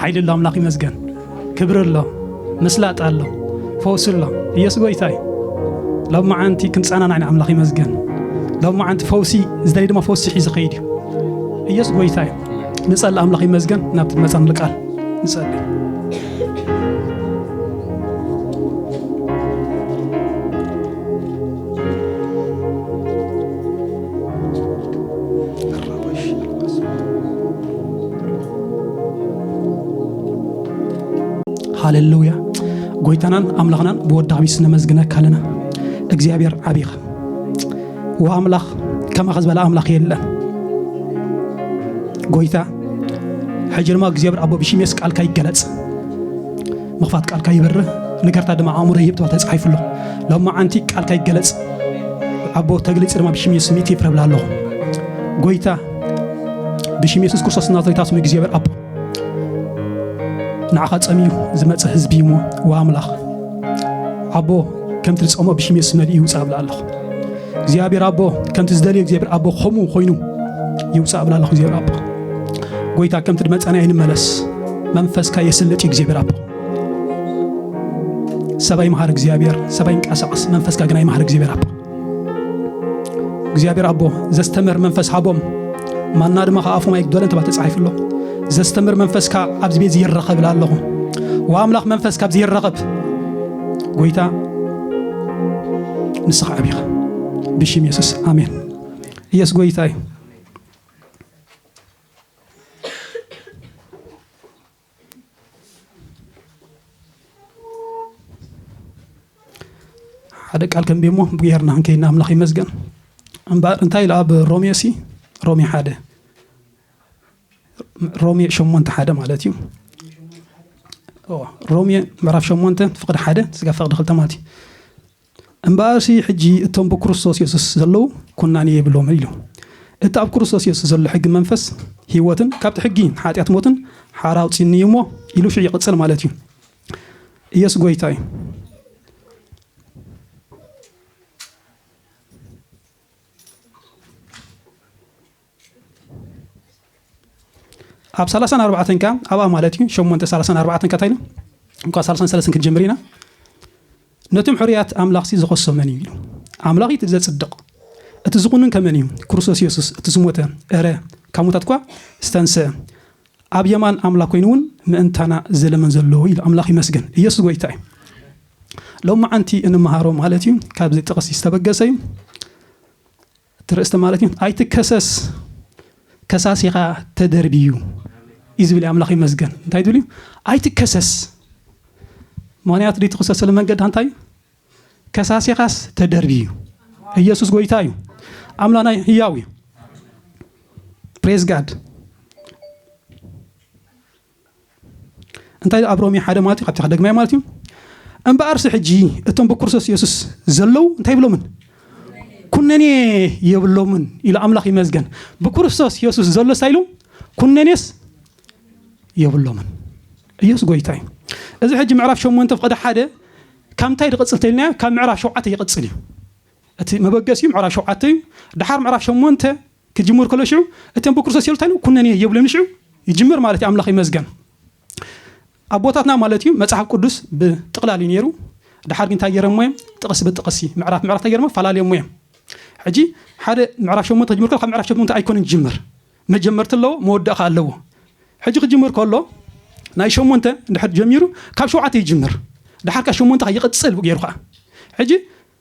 ሓይሊ ኣሎ ኣምላኽ ይመስገን ክብሪ ኣሎ ምስላጥ ኣሎ ፈውሲ ኣሎ ኢየሱስ ጎይታ እዩ ሎብ መዓንቲ ክንፀናናዕ ኢና ኣምላኽ ይመስገን ሎብ መዓንቲ ፈውሲ ዝደለይ ድማ ፈውሲ ሒዙ ኸይድ እዩ ኢየሱስ ጎይታ እዩ ንፀሊ ኣምላኽ ይመስገን ናብቲ መፀን ልቃል ንፀሊ ሃሌሉያ ጎይታናን ኣምላኽናን ብወዳሚ ስነመዝግነካ ኣለና እግዚኣብሔር ዓቢኻ ወኣምላኽ ከማኸ ዝበለ ኣምላኽ የለን ጎይታ ሕጂ ድማ እግዚኣብሔር ኣቦ ብሽሜስ ቃልካ ይገለጽ ምኽፋት ቃልካ ይበርህ ንገርታ ድማ ኣእምሮ ይህብ ተባ ተጻሒፉ ኣሎ ሎም መዓንቲ ቃልካ ይገለጽ ኣቦ ተግልጽ ድማ ብሽሜስ ሚት ይፍረብላ ኣለኹ ጎይታ ብሽም የሱስ ክርስቶስ ናዝሬታ ስሙ እግዚኣብሔር ኣቦ ንዓኻ ጸሚዩ ዝመጸ ህዝቢ እሞ ዋ ኣምላኽ ኣቦ ከምቲ ዝጸሞ ብሽም የሱስ መልእ ይውፃእ ብላ ኣለኹ እግዚኣብሔር ኣቦ ከምቲ ዝደልዮ እግዚኣብሔር ኣቦ ከምኡ ኮይኑ ይውፃእ ብላ ኣለኹ እግዚኣብሔር ኣቦ ጎይታ ከምቲ ድመጸና ይንመለስ መንፈስካ የስልጥ እዩ እግዚኣብሔር ኣቦ ሰባይ መሃር እግዚኣብሔር ሰባይ ይንቀሳቐስ መንፈስካ ግና ይመሃር እግዚኣብሔር ኣቦ እግዚኣብሔር ኣቦ ዘስተምህር መንፈስ ሃቦም ማና ድማ ከዓ ኣፎም ኣይግደለን ተባ ተፃሒፉ ኣሎ ዘስተምር መንፈስካ ኣብዚ ቤት ይረኸብ ኢላ ኣለኹ ወኣምላኽ መንፈስ ካብዚ ይረኸብ ጎይታ ንስኻ ዓቢኻ ብሽም የሱስ ኣሜን ኢየሱስ ጎይታ እዩ ሓደ ቃል ከንብብ እሞ ብጉያርና ክንከይና ኣምላኽ ይመስገን እምበኣር እንታይ ኢሉ ኣብ ሮሜ ሲ ሮሜ ሓደ ሮሜ ሸሞንተ ሓደ ማለት እዩ ሮሜ ምዕራፍ ሸሞንተ ፍቅዲ ሓደ ስጋ ፍቅዲ ክልተ ማለት እዩ እምበኣርሲ ሕጂ እቶም ብክርስቶስ የሱስ ዘለዉ ኵናኔ የብሎምን ኢሉ። እቲ ኣብ ክርስቶስ የሱስ ዘሎ ሕጊ መንፈስ ህይወትን ካብቲ ሕጊ ሓጢኣት ሞትን ሓራ ኣውጺኡኒ እዩ እሞ ኢሉ ሽዑ ይቕጽል ማለት እዩ። ኢየሱስ ጎይታ እዩ። ኣብ ሰላሳን ኣርባዕተን ከኣ ኣብኣ ማለት እዩ ሸሞንተ ሰላሳን ኣርባዕተን ከታ ኢሉ እንኳ ሰላሳን ሰለስን ክንጀምር ኢና ነቶም ሕርያት ኣምላኽሲ ዝኸሶ መን እዩ ኢሉ ኣምላኽ እቲ ዘጽድቕ እቲ ዝኹንን ከመን እዩ ክርስቶስ የሱስ እቲ ዝሞተ እረ ካብ ሙታት እኳ ዝተንስአ ኣብ የማን ኣምላኽ ኮይኑ እውን ምእንታና ዘለመን ዘለዎ ኢሉ ኣምላኽ ይመስገን ኢየሱስ ጎይታ እዩ ሎሚ ዓንቲ እንመሃሮ ማለት እዩ ካብዚ ጥቕሲ ዝተበገሰ እዩ እቲ ርእስቲ ማለት እዩ ኣይትከሰስ ከሳሲኻ ተደርብዩ እዩ ዝብል ኣምላኽ ይመስገን እንታይ ዝብል እዩ ኣይትከሰስ ምክንያቱ ድዩ ትኽሰሰሉ መንገዲ እንታይ እዩ ከሳሲኻስ ተደርብዩ እዩ ኢየሱስ ጎይታ እዩ ኣምላና ህያው እዩ ፕሬዝ ጋድ እንታይ ኣብ ሮሜ ሓደ ማለት እዩ ካብቲ ከደግማዮ ማለት እዩ እምበኣርሲ ሕጂ እቶም ብክርስቶስ የሱስ ዘለዉ እንታይ ይብሎምን ኩነኔ የብሎምን ኢሉ ኣምላኽ ይመዝገን ብክርስቶስ የሱስ ዘሎ ሳይሉ ኩነኔስ የብሎምን ኢየሱስ ጎይታ እዩ እዚ ሕጂ ምዕራፍ ሸሞንተ ፍቐደ ሓደ ካብ እንታይ ዝቕፅል ተልና ካብ ምዕራፍ ሸውዓተ ይቕፅል እዩ እቲ መበገሲ እዩ ምዕራፍ ሸውዓተ እዩ ድሓር ምዕራፍ ሸሞንተ ክጅምር ከሎ ሽዑ እተን ብክርስቶስ የሉ እንታይ ኩነኔ የብለን ሽዑ ይጅምር ማለት እዩ ኣምላኽ ይመዝገን ኣቦታትና ማለት እዩ መጽሓፍ ቅዱስ ብጥቕላል እዩ ነይሩ ድሓር ግን እንታይ ገይረሞ እዮም ጥቕሲ ብጥቕሲ ምዕራፍ ምዕራፍ እንታይ ገይረሞ ፈላለየሞ እዮም ሕጂ ሓደ ምዕራፍ ሸሞንተ ክጅምር ከሎ ካብ ምዕራፍ ሸሞንተ ኣይኮነን ዝጅምር መጀመርቲ ኣለዎ መወዳእ ከዓ ኣለዎ ሕጂ ክጅምር ከሎ ናይ ሸሞንተ እንድሕር ጀሚሩ ካብ ሸውዓተ ይጅምር ድሓር ከዓ ሸሞንተ ከዓ ይቕፅል ገይሩ ከዓ ሕጂ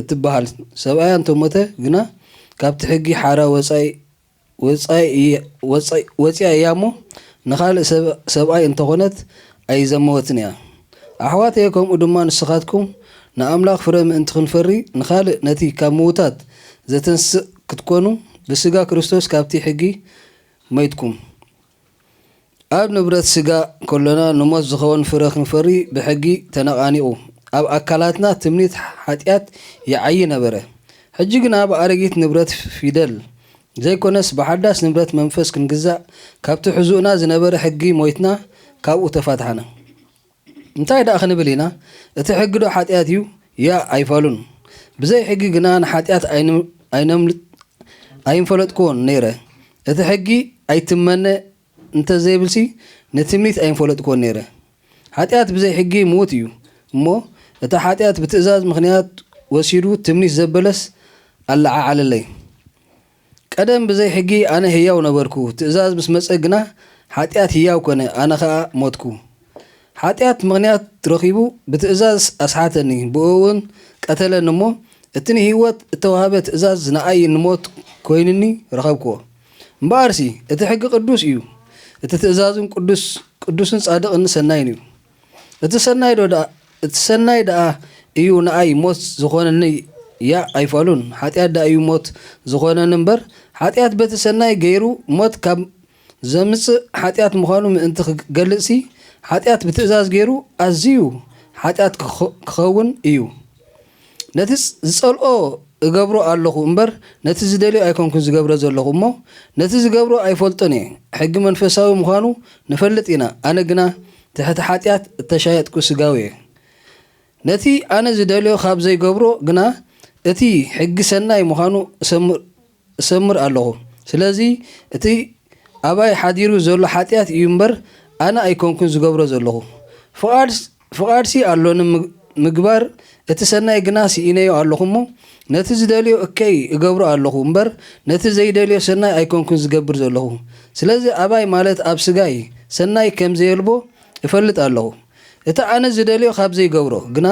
እትበሃል ሰብኣያ እንተሞተ ግና ካብቲ ሕጊ ሓራ ወጻኢ እያ'ሞ ንኻልእ ሰብኣይ እንተኾነት ኣይዘመወትን እያ። ኣሕዋተየ ከምኡ ድማ ንስኻትኩም ንኣምላኽ ፍረ ምእንቲ ክንፈሪ ንኻልእ ነቲ ካብ ምዉታት ዘተንስእ ክትኮኑ ብስጋ ክርስቶስ ካብቲ ሕጊ ሞይትኩም። ኣብ ንብረት ስጋ ከሎና ንሞት ዝኸውን ፍረ ክንፈሪ ብሕጊ ተነቓኒቑ ኣብ ኣካላትና ትምኒት ሓጢኣት ይዓዪ ነበረ። ሕጂ ግና ብኣረጊት ንብረት ፊደል ዘይኮነስ ብሓዳስ ንብረት መንፈስ ክንግዛእ ካብቲ ሕዙኡና ዝነበረ ሕጊ ሞይትና ካብኡ ተፋታሕና። እንታይ ደኣ ክንብል ኢና እቲ ሕጊዶ ሓጢኣት እዩ ያእ ኣይፋሉን ብዘይ ሕጊ ግና ንሓጢኣት ኣይነምልጥ ኣይምፈለጥክዎን ነይረ እቲ ሕጊ ኣይትመነ እንተ ዘይብልሲ ንትምኒት ኣይምፈለጥክዎን ነይረ ሓጢኣት ብዘይ ሕጊ ምዉት እዩ እሞ እቲ ሓጢኣት ብትእዛዝ ምኽንያት ወሲዱ ትምኒት ዘበለስ ኣለዓዓለለይ ቀደም ብዘይ ሕጊ ኣነ ህያው ነበርኩ፣ ትእዛዝ ምስ መጸ ግና ሓጢኣት ህያው ኮነ፣ ኣነ ኸኣ ሞትኩ። ሓጢኣት ምኽንያት ረኺቡ ብትእዛዝ ኣስሓተኒ፣ ብእኡውን ቀተለኒ እሞ፣ እቲ ንህይወት እተዋህበ ትእዛዝ ንኣይ ንሞት ኮይኑኒ ረኸብክዎ። እምበኣርሲ እቲ ሕጊ ቅዱስ እዩ፣ እቲ ትእዛዝውን ቅዱስ፣ ቅዱስን ጻድቕን ሰናይን እዩ። እቲ ሰናይ ዶ ደኣ እቲ ሰናይ ደኣ እዩ ንኣይ ሞት ዝኾነኒ ያእ ኣይፋሉን ሓጢኣት ደኣ እዩ ሞት ዝኾነኒ እምበር ሓጢኣት በቲ ሰናይ ገይሩ ሞት ካብ ዘምጽእ ሓጢኣት ምዃኑ ምእንቲ ክገልጽሲ ሓጢኣት ብትእዛዝ ገይሩ ኣዚዩ ሓጢኣት ክኸውን እዩ ነቲ ዝጸልኦ እገብሮ ኣሎኹ እምበር ነቲ ዝደልዮ ኣይኮንኩን ዝገብረ ዘሎኹ እሞ ነቲ ዝገብሮ ኣይፈልጦን እየ ሕጊ መንፈሳዊ ምዃኑ ንፈልጥ ኢና ኣነ ግና ትሕቲ ሓጢኣት እተሻየጥኩ ስጋዊ እየ ነቲ ኣነ ዝደልዮ ካብ ዘይገብሮ ግና እቲ ሕጊ ሰናይ ምዃኑ እሰምር እሰምር ኣሎኹ። ስለዚ እቲ ኣባይ ሓዲሩ ዘሎ ሓጢኣት እዩ እምበር ኣነ ኣይኮንኩን ዝገብሮ ዘሎኹ። ፍቓድ ፍቓድሲ ኣሎኒ ምግባር እቲ ሰናይ ግና ስኢነዮ ኣሎኹ እሞ ነቲ ዝደልዮ እከይ እገብሮ ኣሎኹ እምበር ነቲ ዘይደልዮ ሰናይ ኣይኮንኩን ዝገብር ዘሎኹ። ስለዚ ኣባይ ማለት ኣብ ስጋይ ሰናይ ከም ዘየልቦ እፈልጥ ኣሎኹ። እቲ ኣነ ዝደልዮ ካብ ዘይገብሮ ግና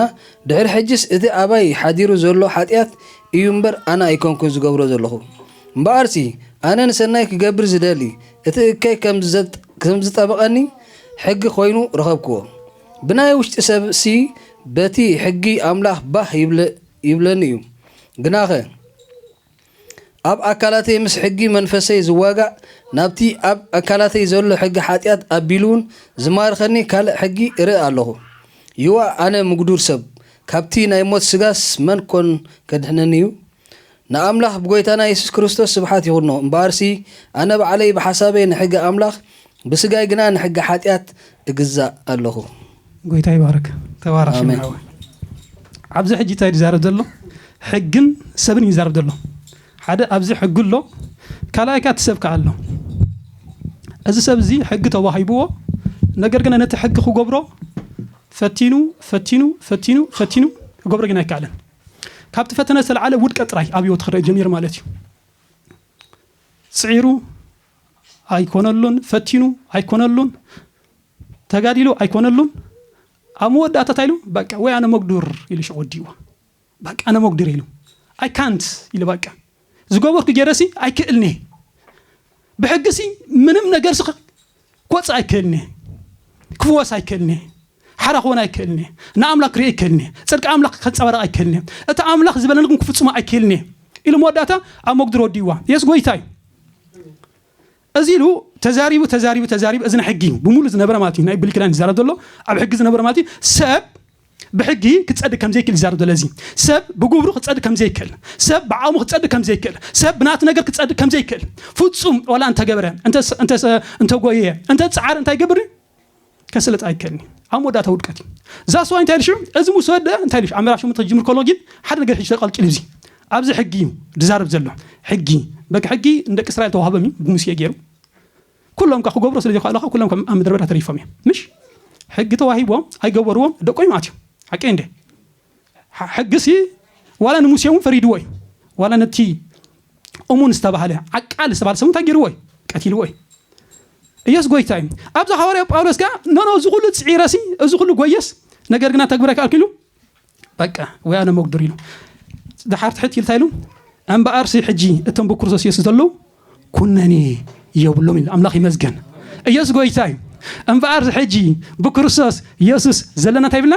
ድሕሪ ሕጂስ እቲ ኣባይ ሓዲሩ ዘሎ ሓጢኣት እዩ እምበር ኣነ ኣይኮንኩን ዝገብሮ ዘለኹ። እምበኣርሲ ኣነ ንሰናይ ክገብር ዝደሊ እቲ እከይ ከም ዝጠበቐኒ ሕጊ ኮይኑ ረኸብክዎ። ብናይ ውሽጢ ሰብሲ በቲ ሕጊ ኣምላኽ ባህ ይብለኒ እዩ። ግናኸ። ኣብ ኣካላተይ ምስ ሕጊ መንፈሰይ ዝዋጋእ ናብቲ ኣብ ኣካላተይ ዘሎ ሕጊ ሓጢኣት ኣቢሉውን ዝማርኸኒ ካልእ ሕጊ እርኢ ኣለኹ። ይዋ ኣነ ምጉዱር ሰብ፣ ካብቲ ናይ ሞት ስጋስ መን ኮን ከድሕነኒ እዩ? ንኣምላኽ ብጎይታና የሱስ ክርስቶስ ስብሓት ይኹኖ፣ እምበኣርሲ ኣነ ባዕለይ ብሓሳበይ ንሕጊ ኣምላኽ ብስጋይ ግና ንሕጊ ሓጢኣት እግዛእ ኣሎኹ። ጎይታ ይባርክ ተባረክ ሽምዓ ኣሜን። ሓወይ ኣብዚ ሕጂ ታይ ዝዛረብ ዘሎ ሕግን ሰብን እዩ ዝዛረብ ዘሎ ሓደ ኣብዚ ሕጊ ኣሎ ካልኣይ ከኣ እቲ ሰብ ከኣ ኣሎ እዚ ሰብ እዚ ሕጊ ተዋሂብዎ ነገር ግና ነቲ ሕጊ ክገብሮ ፈቲኑ ፈቲኑ ፈቲኑ ፈቲኑ ክገብሮ ግን ኣይከኣለን ካብቲ ፈተነ ዝተለዓለ ውድቀት ጥራይ ኣብ ሂወቱ ክርእ ጀሚሩ ማለት እዩ ጽዒሩ ኣይኮነሉን ፈቲኑ ኣይኮነሉን ተጋዲሉ ኣይኮነሉን ኣብ መወዳእታ እንታይ ኢሉ በቃ ወይ ኣነ መጉዱር ኢሉ ሽዑ ወዲእዎ በቃ ኣነ መጉዱር ኢሉ ኣይ ካንት ኢሉ በቃ ዝገበርኩ ገይረሲ ኣይክእልኒ ብሕግሲ ምንም ነገርሲ ክወፅእ ኣይክእልኒ ክፍወስ ኣይክእልኒ ሓራ ክኾን ኣይክእልን እየ። ንኣምላኽ ክርኢ ኣይክእልን እየ። ጽድቂ ኣምላኽ ከንጸባርቕ ኣይክእልን እየ። እቲ ኣምላኽ ዝበለኒ ግን ክፍጽሞ ኣይክእልን እየ ኢሉ መወዳእታ ኣብ መጉድሪ ወዲእዋ። የሱስ ጎይታ እዩ። እዚ ኢሉ ተዛሪቡ ተዛሪቡ ተዛሪቡ እዚ ናይ ሕጊ እዩ ብምሉእ ዝነበረ ማለት እዩ ናይ ብሉይ ኪዳን ዝዛረብ ዘሎ ኣብ ሕጊ ዝነበረ ማለት እዩ ሰብ ብሕጊ ክጸድቅ ከም ዘይክእል ይዛረብ ዘሎ እዚ ሰብ ብግብሩ ክጸድቅ ከም ዘይክእል ሰብ ብዓቕሙ ክጸድቅ ከም ዘይክእል ሰብ ብናቱ ነገር ክጸድቅ ከም ዘይክእል ፍጹም ዋላ እንተገብረ እንተጎየ እንተ ጻዕረ እንታይ ይገብር ከስልጥ ኣይከእልን እዩ ኣብ መወዳእታ ውድቀት እዩ ዛስ ዋይ እንታይ ኢሉ ሽዑ እዚ ምስ ወደአ እንታይ ኢሉ ሽዑ ኣመራሽ ምቶ ክጅምር ከሎ ግን ሓደ ነገር ሕጂ ተቐልቂሉ እዚ ኣብዚ ሕጊ እዩ ዝዛረብ ዘሎ ሕጊ በቂ ሕጊ ንደቂ እስራኤል ተዋህበም እዩ ብሙሴ ገይሩ ኩሎም ከዓ ክገብሮ ስለ ዘይክኣሉ ከዓ ኩሎም ከም ኣብ ምድረ በዳ ተሪፎም እዮም ምሽ ሕጊ ተዋሂቦም ኣይገበርዎም ደቆም ኣትዮም ሓቂ እንደ ሕጊሲ ዋላ ንሙሴ እውን ፈሪድዎ እዩ። ዋላ ነቲ እሙን ዝተባህለ ዓቃል ዝተባህለ ሰብ እንታይ ገይርዎ እዩ? ቀቲልዎ እዩ። ኢየሱስ ጎይታ እዩ። ኣብዚ ሃዋርያ ጳውሎስ ከኣ ኖኖ እዚ ኩሉ ጽዒረሲ እዚ ኩሉ ጎየስ ነገር ግና ተግብረ ከኣልኩ ኢሉ በቃ ወይ ኣነ መጉድር ኢሉ ድሓር ትሕት ኢልታ ኢሉ እምበኣርሲ ሕጂ እቶም ብክርስቶስ ኢየሱስ ዘለዉ ኩነኔ የብሎም ኢሉ ኣምላኽ ይመስገን። ኢየሱስ ጎይታ እዩ። እምበኣርሲ ሕጂ ብክርስቶስ ኢየሱስ ዘለና እንታይ ይብልና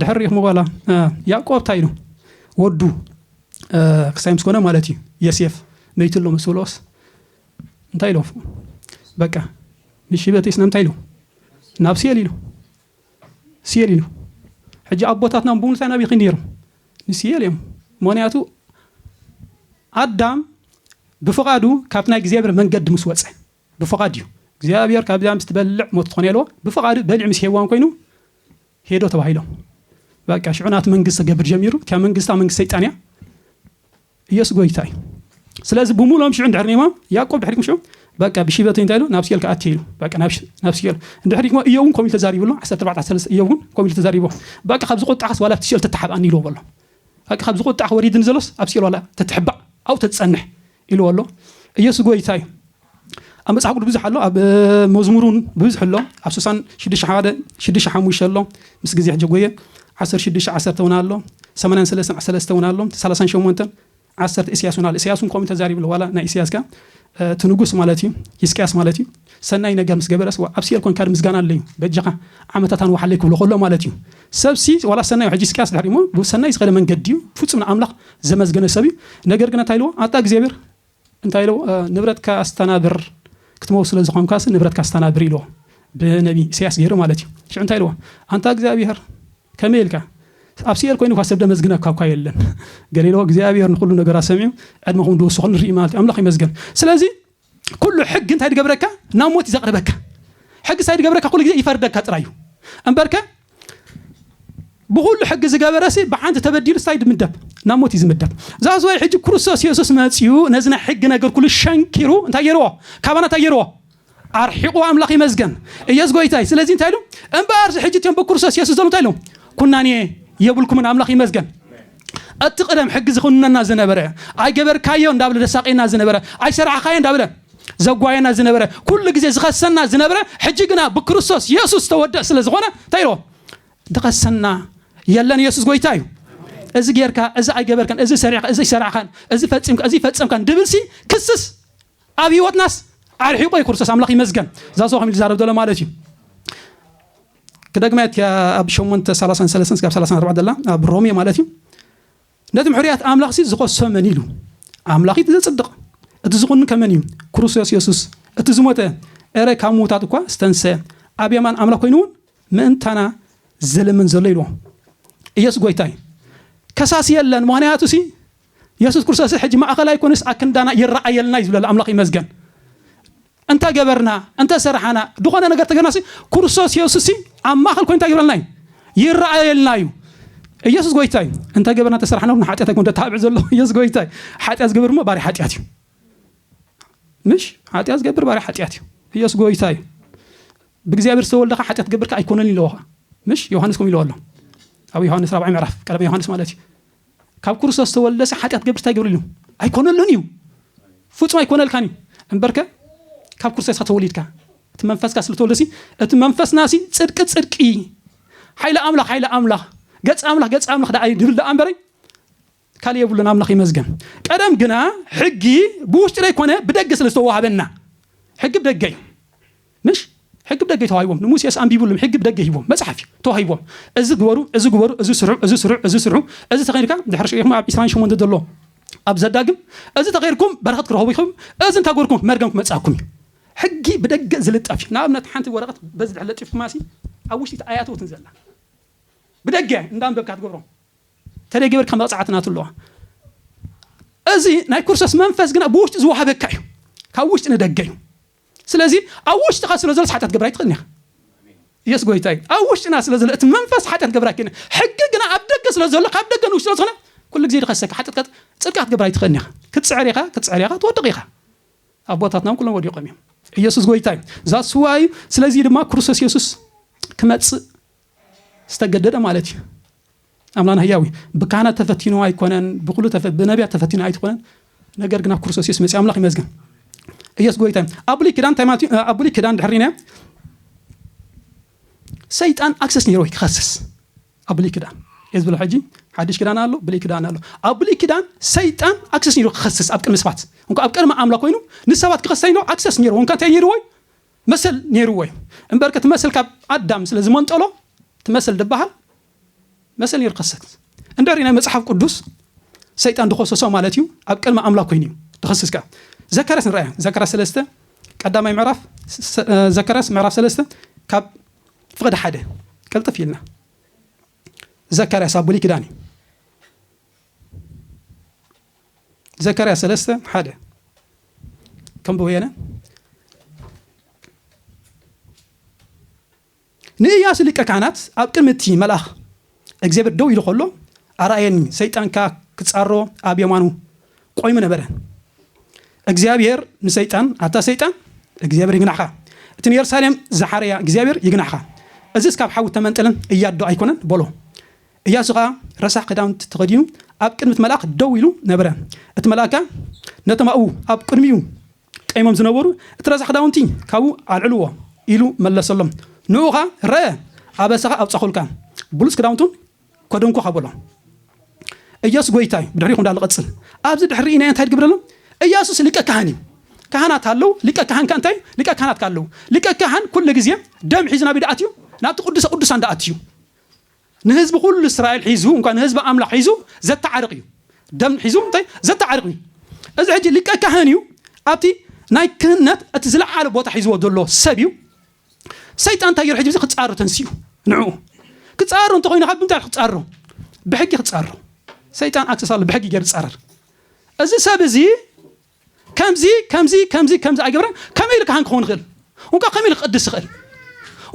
ድሕር ሪኢኽሞ ዋላ ያእቆብ ታይ ኢሉ ወዱ ክሳይ ምስ ኮነ ማለት እዩ የሴፍ መይቱ ኣሎ ምስ ብሎስ እንታይ ኢሎ በቃ ንሽበት ስና እንታይ ኢሉ ናብ ሲኤል ኢሉ ሲኤል ኢሉ ሕጂ ኣቦታትና ብምሉታይ ናብይ ኺድ ነይሮም ንሲኤል እዮም ምክንያቱ ኣዳም ብፍቓዱ ካብቲ ናይ እግዚኣብሔር መንገዲ ምስ ወፀ ብፍቓድ እዩ እግዚኣብሔር ካብዚኣ ምስ ትበልዕ ሞት ትኾኔልዎ ብፍቓዱ በሊዑ ምስ ሔዋን ኮይኑ ሄዶ ተባሂሎም በቃ ሽዑ ናቱ መንግስቲ ገብር ጀሚሩ እቲያ መንግስታ መንግስቲ ሰይጣን እያ ኢየሱስ ጎይታ እዩ ስለዚ ብሙሎም ሽዑ እንድሕር ኔሞም ያዕቆብ ድሕሪኩም ሽዑ በቃ ብሽበት እንታይ ኢሉ ናብ ሲኦል ከኣቲ ኢሉ በቃ ናብ ሲኦል እንድሕር ዲሞ እዮብ እውን ከምኡ ኢሉ ተዛሪቡ ኣሎ 14 እዮብ እውን ከምኡ ኢሉ ተዛሪቡ በቃ ካብ ዝቁጣዕካስ ዋላ ኣብቲ ሲኦል ተተሓብኣኒ ኢልዎ በሎ በቃ ካብ ዝቁጣዕ ወሪድኒ ዘሎስ ኣብ ሲኦል ዋላ ተትሕባእ ኣብኡ ተትፀንሕ ኢልዎ ኣሎ ኢየሱስ ጎይታ እዩ ኣብ መጽሓፍ ቅዱስ ብዙሕ ኣሎ ኣብ መዝሙሩን ብዙሕ ኣሎ ኣብ ስሳን ሽዱሽተ ሓደ ሽዱሽተ ሓሙሽተ ኣሎ ምስ ግዜ ሕጂ ጎየ ዓሰርተ ሽዱሽተ ዓሰርተ እውን ኣሎ ሰማንያን ሰለስተን ሰለስተ እውን ኣሎ ሰላሳን ሸሞንተን ዓሰርተ ኢስያስ እውን ኣሎ ኢስያስ እውን ከምኡ ተዛሪብሉ ዋላ ናይ ኢስያስ ከ እቲ ንጉስ ማለት እዩ ሂስቅያስ ማለት እዩ ሰናይ ነገር ምስ ገበረስ ዋእ ኣብ ሲኦል ኮንካ ምስጋና ኣለዩ በጃኻ ዓመታት ኣንውሓለይ ክብሎ ከሎ ማለት እዩ ሰብሲ ዋላ ሰናይ ሕጂ ስቅያስ ድሕሪ እሞ ብሰናይ ዝኸደ መንገዲ እዩ ፍጹም ንኣምላኽ ዘመስገነ ሰብ እዩ ነገር ግን እንታይ ኢልዎ ኣታ እግዚኣብሔር እንታይ ኢልዎ ንብረትካ ኣስተናብር ክትመው ስለ ዝኾንካስ ንብረትካ ኣስተናብር ኢልዎ ብነቢ ኢሳያስ ገይሩ ማለት እዩ ሽዑ እንታይ ኢልዎ ኣንታ እግዚኣብሔር ከመይ ኢልካ ኣብ ሲኤል ኮይኑ ኳ ሰብ ደመዝግነካ እኳ የለን ገሌሎ እግዚኣብሔር ንኩሉ ነገራት ሰሚዑ ዕድመኹም ድውስኹ ንርኢ ማለት እዩ ኣምላኽ ይመስገን ስለዚ ኩሉ ሕጊ እንታይ ድገብረካ ናብ ሞት እዩ ዘቕርበካ ሕጊ ሳይ ድገብረካ ኩሉ ግዜ ይፈርደካ ጥራዩ እምበርከ ብኹሉ ሕጊ ዝገበረሲ ብሓንቲ ተበዲሉ ስታይ ድምደብ ናብ ሞት እዩ ዝምደብ ዛዝዋይ ሕጂ ክርስቶስ የሱስ መፅኡ ነዚ ናይ ሕጊ ነገር ኩሉ ሸንኪሩ እንታይ ገይርዎ ካባና እንታይ ገይርዎ ኣርሒቑ ኣምላኽ ይመዝገን እየስ ጎይታይ ስለዚ እንታይ ኢሉ እምበኣርዚ ሕጂ እትዮም ብክርስቶስ የሱስ ዘሎ እንታይ ኢሉ ኩናኔ የብልኩምን ኣምላኽ ይመዝገን እቲ ቅደም ሕጊ ዝኹንነና ዝነበረ፣ ኣይገበርካዮ እንዳብለ ዘሳቅየና ዝነበረ፣ ኣይሰራሕኻዮ እንዳብለ ዘጓየና ዝነበረ፣ ኩሉ ግዜ ዝኸሰና ዝነብረ፣ ሕጂ ግና ብክርስቶስ የሱስ ዝተወድእ ስለ ዝኾነ እንታይ ኢልዎ ድኸሰና የለን የሱስ ጎይታ እዩ። እዚ ጌርካ፣ እዚ ኣይገበርካን፣ እዚ ሰሪዕካ፣ እዚ ኣይሰራዕካን፣ እዚ ፈጺምካ፣ እዚ ኣይፈጸምካን ድብልሲ ክስስ ኣብ ህይወትናስ ኣርሒቆ እዩ ክርስቶስ ኣምላኽ ይመስገን። እዛ ሰው ከም ዝዛረብ ዘሎ ማለት እዩ። ክደግማ እየ እቲኣ ኣብ ሸሞንተ ሰላሳን ሰለስተን እስካብ ሰላሳን ኣርባዕተን ዘላ ኣብ ሮሜ ማለት እዩ ነቲ ምሕርያት ኣምላኽሲ ዝኸሶ መን ኢሉ ኣምላኽ እቲ ዘጽድቕ እቲ ዝኹንን ከመን እዩ ክርስቶስ የሱስ እቲ ዝሞተ ኤረ ካብ ምዉታት እኳ ዝተንሰ ኣብ የማን ኣምላኽ ኮይኑ እውን ምእንታና ዝልምን ዘሎ ኢልዎ ኢየሱስ ጎይታ እዩ ከሳሲ የለን ምክንያቱ ሲ የሱስ ክርስቶስስ ሕጂ ማእከል ኣይኮነስ ኣክንዳና ይረኣየልና እዩ ዝብለላ ኣምላኽ ይመስገን እንተ ገበርና እንተ ሰራሓና ድኾነ ነገር ተገርናሲ ክርስቶስ የሱስ ኣብ ማእከል ኮይኑ እንታይ ይብለልና እዩ ይረኣየልና እዩ ኢየሱስ ጎይታ እዩ እንታይ ገበርና ተሰራሕና እውን ሓጢኣት ኣይኮን ተታብዕ ዘሎ ኢየሱስ ጎይታ እዩ ሓጢኣት ዝገብር እሞ ባሪ ሓጢኣት እዩ ምሽ ሓጢኣት ዝገብር ባሪ ሓጢኣት እዩ ኢየሱስ ጎይታ እዩ ብእግዚኣብሔር ዝተወልደካ ሓጢኣት ገብርካ ኣይኮነን ኢለዎኻ ምሽ ዮሃንስ ከም ኢለዎ ኣሎ ኣብ ዮሃንስ ራብዓይ ምዕራፍ ቀደም ዮሃንስ ማለት እዩ ካብ ክርስቶስ ዝተወልደሰ ሓጢኣት ክገብርሲ እንታይ ይገብረሉ እዩ? ኣይኮነሉን እዩ። ፍጹም ኣይኮነልካን እዩ። እምበርከ ካብ ክርስቶስ ኢኻ ተወሊድካ እቲ መንፈስካ ስለ ተወልደሲ እቲ መንፈስናሲ ጽድቂ ጽድቂ ሓይሊ ኣምላኽ ሓይሊ ኣምላኽ ገጽ ኣምላኽ ገጽ ኣምላኽ ደኣ ድብል ደኣ እምበረይ ካልእ የብሉን ኣምላኽ ይመዝገን ቀደም ግና ሕጊ ብውሽጢ ዘይኮነ ብደገ ስለ ዝተዋሃበና ሕጊ ብደገ እዩ ምሽ ሕጊ ብደገ እዩ ተዋሂቦም ንሙሴስ ኣንቢብሉም ሕጊ ብደገ ሂቦም መጽሓፍ እዩ ተዋሂቦም እዚ ግበሩ እዚ ግበሩ እዚ ስርሑ እዚ ስርሑ እዚ ስርሑ እዚ ተከይድካ ድሕሪ ሽኢኩም ኣብ ዕስራን ሸሞንተ ዘሎ ኣብ ዘዳግም እዚ ተከይድኩም በረከት ክረክቡ ኢኩም እዚ እንተገርኩም መርገም ክመጽኣኩም እዩ ሕጊ ብደገ ዝልጠፍ እዩ ንኣብነት ሓንቲ ወረቀት በዚ ድሕሪ ለጢፍኩማሲ ኣብ ውሽጢ ኣያተውትን ዘላ ብደገ እንዳንበብካ ትገብሮ ተደይ ገበርካ መቅጻዕቲ ናቱ ኣለዋ እዚ ናይ ኩርሰስ መንፈስ ግና ብውሽጢ ዝወሃበካ እዩ ካብ ውሽጢ ንደገ እዩ ስለዚ ኣብ ውሽጥካ ስለ ዘሎስ ሓጢኣት ክትገብር ኣይትክእልን ኢካ የሱስ ጎይታ እዩ ኣብ ውሽጥና ስለ ዘሎ እቲ መንፈስ ሓጢኣት ክትገብር ኣይክእልን ሕጊ ግና ኣብ ደገ ስለ ዘሎ ካብ ደገ ንውሽጢ ስለ ዝኮነ ኩሉ ግዜ ድኸሰካ ሓጢኣት ጽድቂ ክትገብር ኣይትክእልን ኢካ ክትጽዕር ኢካ ክትጽዕር ኢካ ትወድቅ ኢካ ኣቦታትና እውን ኩሎም ወዲቆም እዮም ኢየሱስ ጎይታ እዩ ዛስዋይ ስለዚህ ድማ ክርስቶስ ኢየሱስ ክመጽእ ዝተገደደ ማለት እዩ ኣምላና ህያዊ ብካህናት ተፈቲኑ ኣይኮነን ብኩሉ ብነቢያት ተፈቲኑ ኣይትኮነን ነገር ግን ኣብ ክርስቶስ የሱስ መፅእ ኣምላኽ ይመዝገን ኢየሱስ ጎይታ እዩ ኣብ ብሉይ ክዳን እንታይ ማለት እዩ ኣብ ብሉይ ክዳን ድሕር ነ ሰይጣን ኣክሰስ ነይሮ ክኸስስ ኣብ ብሉይ ክዳን እየ ዝብሎ ሕጂ ሓድሽ ክዳን ኣሎ ብሉይ ክዳን ኣሎ ኣብ ብሉይ ክዳን ሰይጣን ኣክሰስ ነይሩ ክኸስስ ኣብ ቅድሚ ሰባት እንኳ ኣብ ቅድሚ ኣምላኽ ኮይኑ ንሰባት ክኸሰ ይኖ ኣክሰስ ነይሩ እንኳ እንታይ ነይርዎ መሰል ኔርዎ እዩ እምበርከ እቲ መሰል ካብ ኣዳም ስለ ዝመንጠሎ እቲ መሰል ድበሃል መሰል ኔሩ ከሰት እንደሪ ናይ መጽሓፍ ቅዱስ ሰይጣን ድኸሰሶ ማለት እዩ ኣብ ቅድሚ ኣምላክ ኮይኑ እዩ ድኸስስ ከኣ ዘካርያስ ንረኣያ ዘካርያስ ሰለስተ ቀዳማይ ምዕራፍ ዘካርያስ ምዕራፍ ሰለስተ ካብ ፍቕዲ ሓደ ቅልጥፍ ኢልና ዘካርያስ ኣብ ብሉይ ኪዳን እዩ ዘካርያስ ሰለስተ ሓደ ከም ብወየነ ንእያሱ ሊቀ ካህናት ኣብ ቅድሚ እቲ መልኣኽ እግዚኣብሔር ደው ኢሉ ከሎ ኣርኣየኒ፣ ሰይጣን ከኣ ክጻሮ ኣብ የማኑ ቆይሙ ነበረ። እግዚኣብሔር ንሰይጣን ኣታ ሰይጣን እግዚኣብሔር ይግናሕኻ፣ እቲ ንየሩሳሌም ዝሓረያ እግዚኣብሔር ይግናሕኻ፣ እዝስ ካብ ሓዊ እተመንጠለን እያዶ ኣይኮነን በሎ። እያሱ ኸኣ ረሳሕ ክዳውንቲ ተኸዲኑ ኣብ ቅድሚ እቲ መልኣኽ ደው ኢሉ ነበረ። እቲ መልኣኽ ከኣ ነቶም ኣብኡ ኣብ ቅድሚኡ ቀይሞም ዝነበሩ፣ እቲ ረሳሕ ክዳውንቲ ካብኡ ኣልዕልዎ ኢሉ መለሰሎም። ንእኡ ኸኣ ረእ፣ ኣበሳኻ ኣብጻኹልካ፣ ብሉጽ ክዳውንቱን ከዱን ኮ ሃቦ ኣሎ። እያሱ ጎይታ እዩ ብድሕሪኹም ዳሎ ቀጽል ኣብዚ ድሕሪ ርኢናዮ እንታይ ድግብር ኣሎ እያሱስ ሊቀ ካህን እዩ ካህናት ኣለው ሊቀ ካህን ከ እንታይ እዩ ሊቀ ካህናት ከ ኣለው ሊቀ ካህን ኩሉ ግዜ ደም ሒዙ ናብ ዳኣት እዩ ናብቲ ቅዱሰ ቅዱሳን ዳኣት እዩ ንህዝቢ ኩሉ እስራኤል ሒዙ እንኳ ንህዝቢ ኣምላኽ ሒዙ ዘተዓርቕ እዩ ደም ሒዙ እንታይ ዘተዓርቕ እዩ እዚ ሕጂ ሊቀ ካህን እዩ ኣብቲ ናይ ክህነት እቲ ዝለዓለ ቦታ ሒዝዎ ዘሎ ሰብ እዩ ሰይጣን እንታይ ገይሩ ሕጂ እዚ ክጻሮ ተንሲኡ ንዕኡ ክጻሮ እንተኾይኑ ካብ ብምንታይ ክጻሮ ብሕጊ ክጻሮ ሰይጣን ኣክሰስ ኣሎ ብሕጊ ገይሩ ዝጻረር እዚ ሰብ እዚ ከምዚ ከምዚ ከምዚ ከምዚ ኣይገብረን ከመይ ኢሉ ካህን ክኸውን ይኽእል እንኳ ከመይ ኢሉ ክቅድስ ይኽእል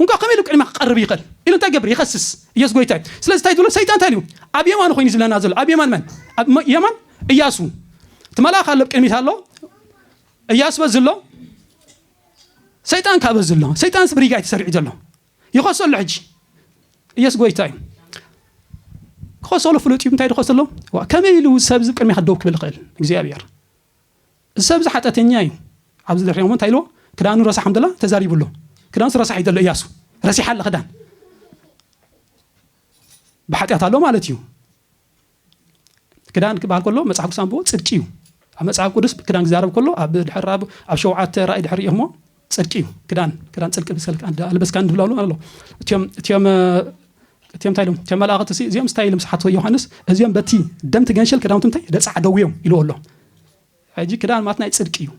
እንኳ ከመይ ኢሉ ቅድማ ክቀርብ ይኽእል ኢሉ እንታይ ገብር ይኸስስ ኢየሱስ ጎይታ እዩ ስለዚ እንታይ ዝብሎ ሰይጣን እንታይ እዩ ኣብ የማኑ ኮይኑ ዝብለና ዘሎ ኣብ የማን መን ኣብ የማን እያሱ እቲ መልኣኽ ኣሎ ቅድሚት ኣሎ እያሱ በዚ ኣሎ ሰይጣን ካበዚ ኣሎ ሰይጣን ብሪጋ እዩ ተሰሪዑ ዘሎ ይኸሶ ኣሎ ሕጂ ኢየሱስ ጎይታ እዩ ክኸሰሉ ፍሉጥ እዩ እንታይ ድኸሰ ኣሎ ዋ ከመይ ኢሉ ሰብ እዚ ቅድሚኻ ደው ክብል ይኽእል እግዚኣብሔር እዚ ሰብ እዚ ሓጢኣተኛ እዩ ኣብዚ ደሪኦሞ እንታይ ኢልዎ ክዳኑ ረሳሕ ከም ደላ ተዛሪቡ ኣሎ ክዳንሱ ረሳሕ እዩ ዘሎ እያሱ ረሲሓ ኣለ ክዳን ብሓጢኣት ኣሎ ማለት እዩ ክዳን ክበሃል ከሎ መጽሓፍ ቅዱስ ኣንብቦ ጽድቂ እዩ ኣብ መጽሓፍ ቅዱስ ክዳን ክዛረብ ከሎ ኣብ ድሕር ኣብ ኣብ ሸውዓተ ራእይ ድሕር እሞ ጽድቂ እዩ ክዳን ክዳን ጽድቂ ልበስካ ንብላሉ ኣሎ እትም እትም እትም እንታይ ኢሎም እትም መላእኽቲ ሲ እዚኦም ስታይ ኢሎም ስሓቶ ዮሃንስ እዚኦም በቲ ደምቲ ገንሸል ክዳውንቲ እንታይ ደጻዕደው እዮም ኢልዎ ኣሎ ሕጂ ክዳን ማት ናይ ጽድቂ እዩ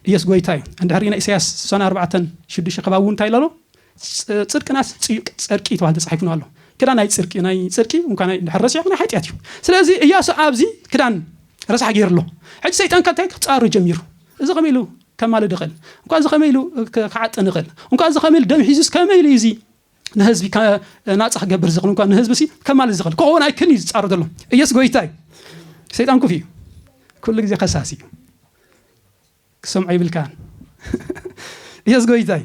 ኢየሱስ ጎይታ እዩ እንድሕሪ ናይ ኢሳያስ ሰነ ኣርባዕተን ሽዱሽተ ከባቢ እውን እንታይ ኣሎ ጽድቅናስ ጽዩቅ ጸርቂ ተባሂሉ ተጻሒፉና ኣሎ ክዳን ናይ ጽርቂ ናይ ጽርቂ እንኳ ናይ ድሕር ረሲዕኹ ናይ ሓጢኣት እዩ ስለዚ እያሱ ኣብዚ ክዳን ረሳሕ ገይሩ ኣሎ ሕጂ ሰይጣን ካብ እንታይ ክጻሩ ጀሚሩ እዚ ከመይ ኢሉ ከማልድ ይኽእል እንኳ እዚ ከመይ ኢሉ ክዓጥን ይኽእል እንኳ እዚ ከመይ ኢሉ ደም ሒዙስ ከመይ ኢሉ እዚ ንህዝቢ ናጻ ክገብር ዝኽእል እንኳ ንህዝቢ ሲ ከማልእ ዝኽእል ክኸውን ኣይክል እዩ ዝፃሩ ዘሎ ኢየሱስ ጎይታ እዩ ሰይጣን ኩፍ እዩ ኩሉ ግዜ ከሳሲ እዩ ክሰምዖ ይብልካን ኢየሱስ ጎይታ እዩ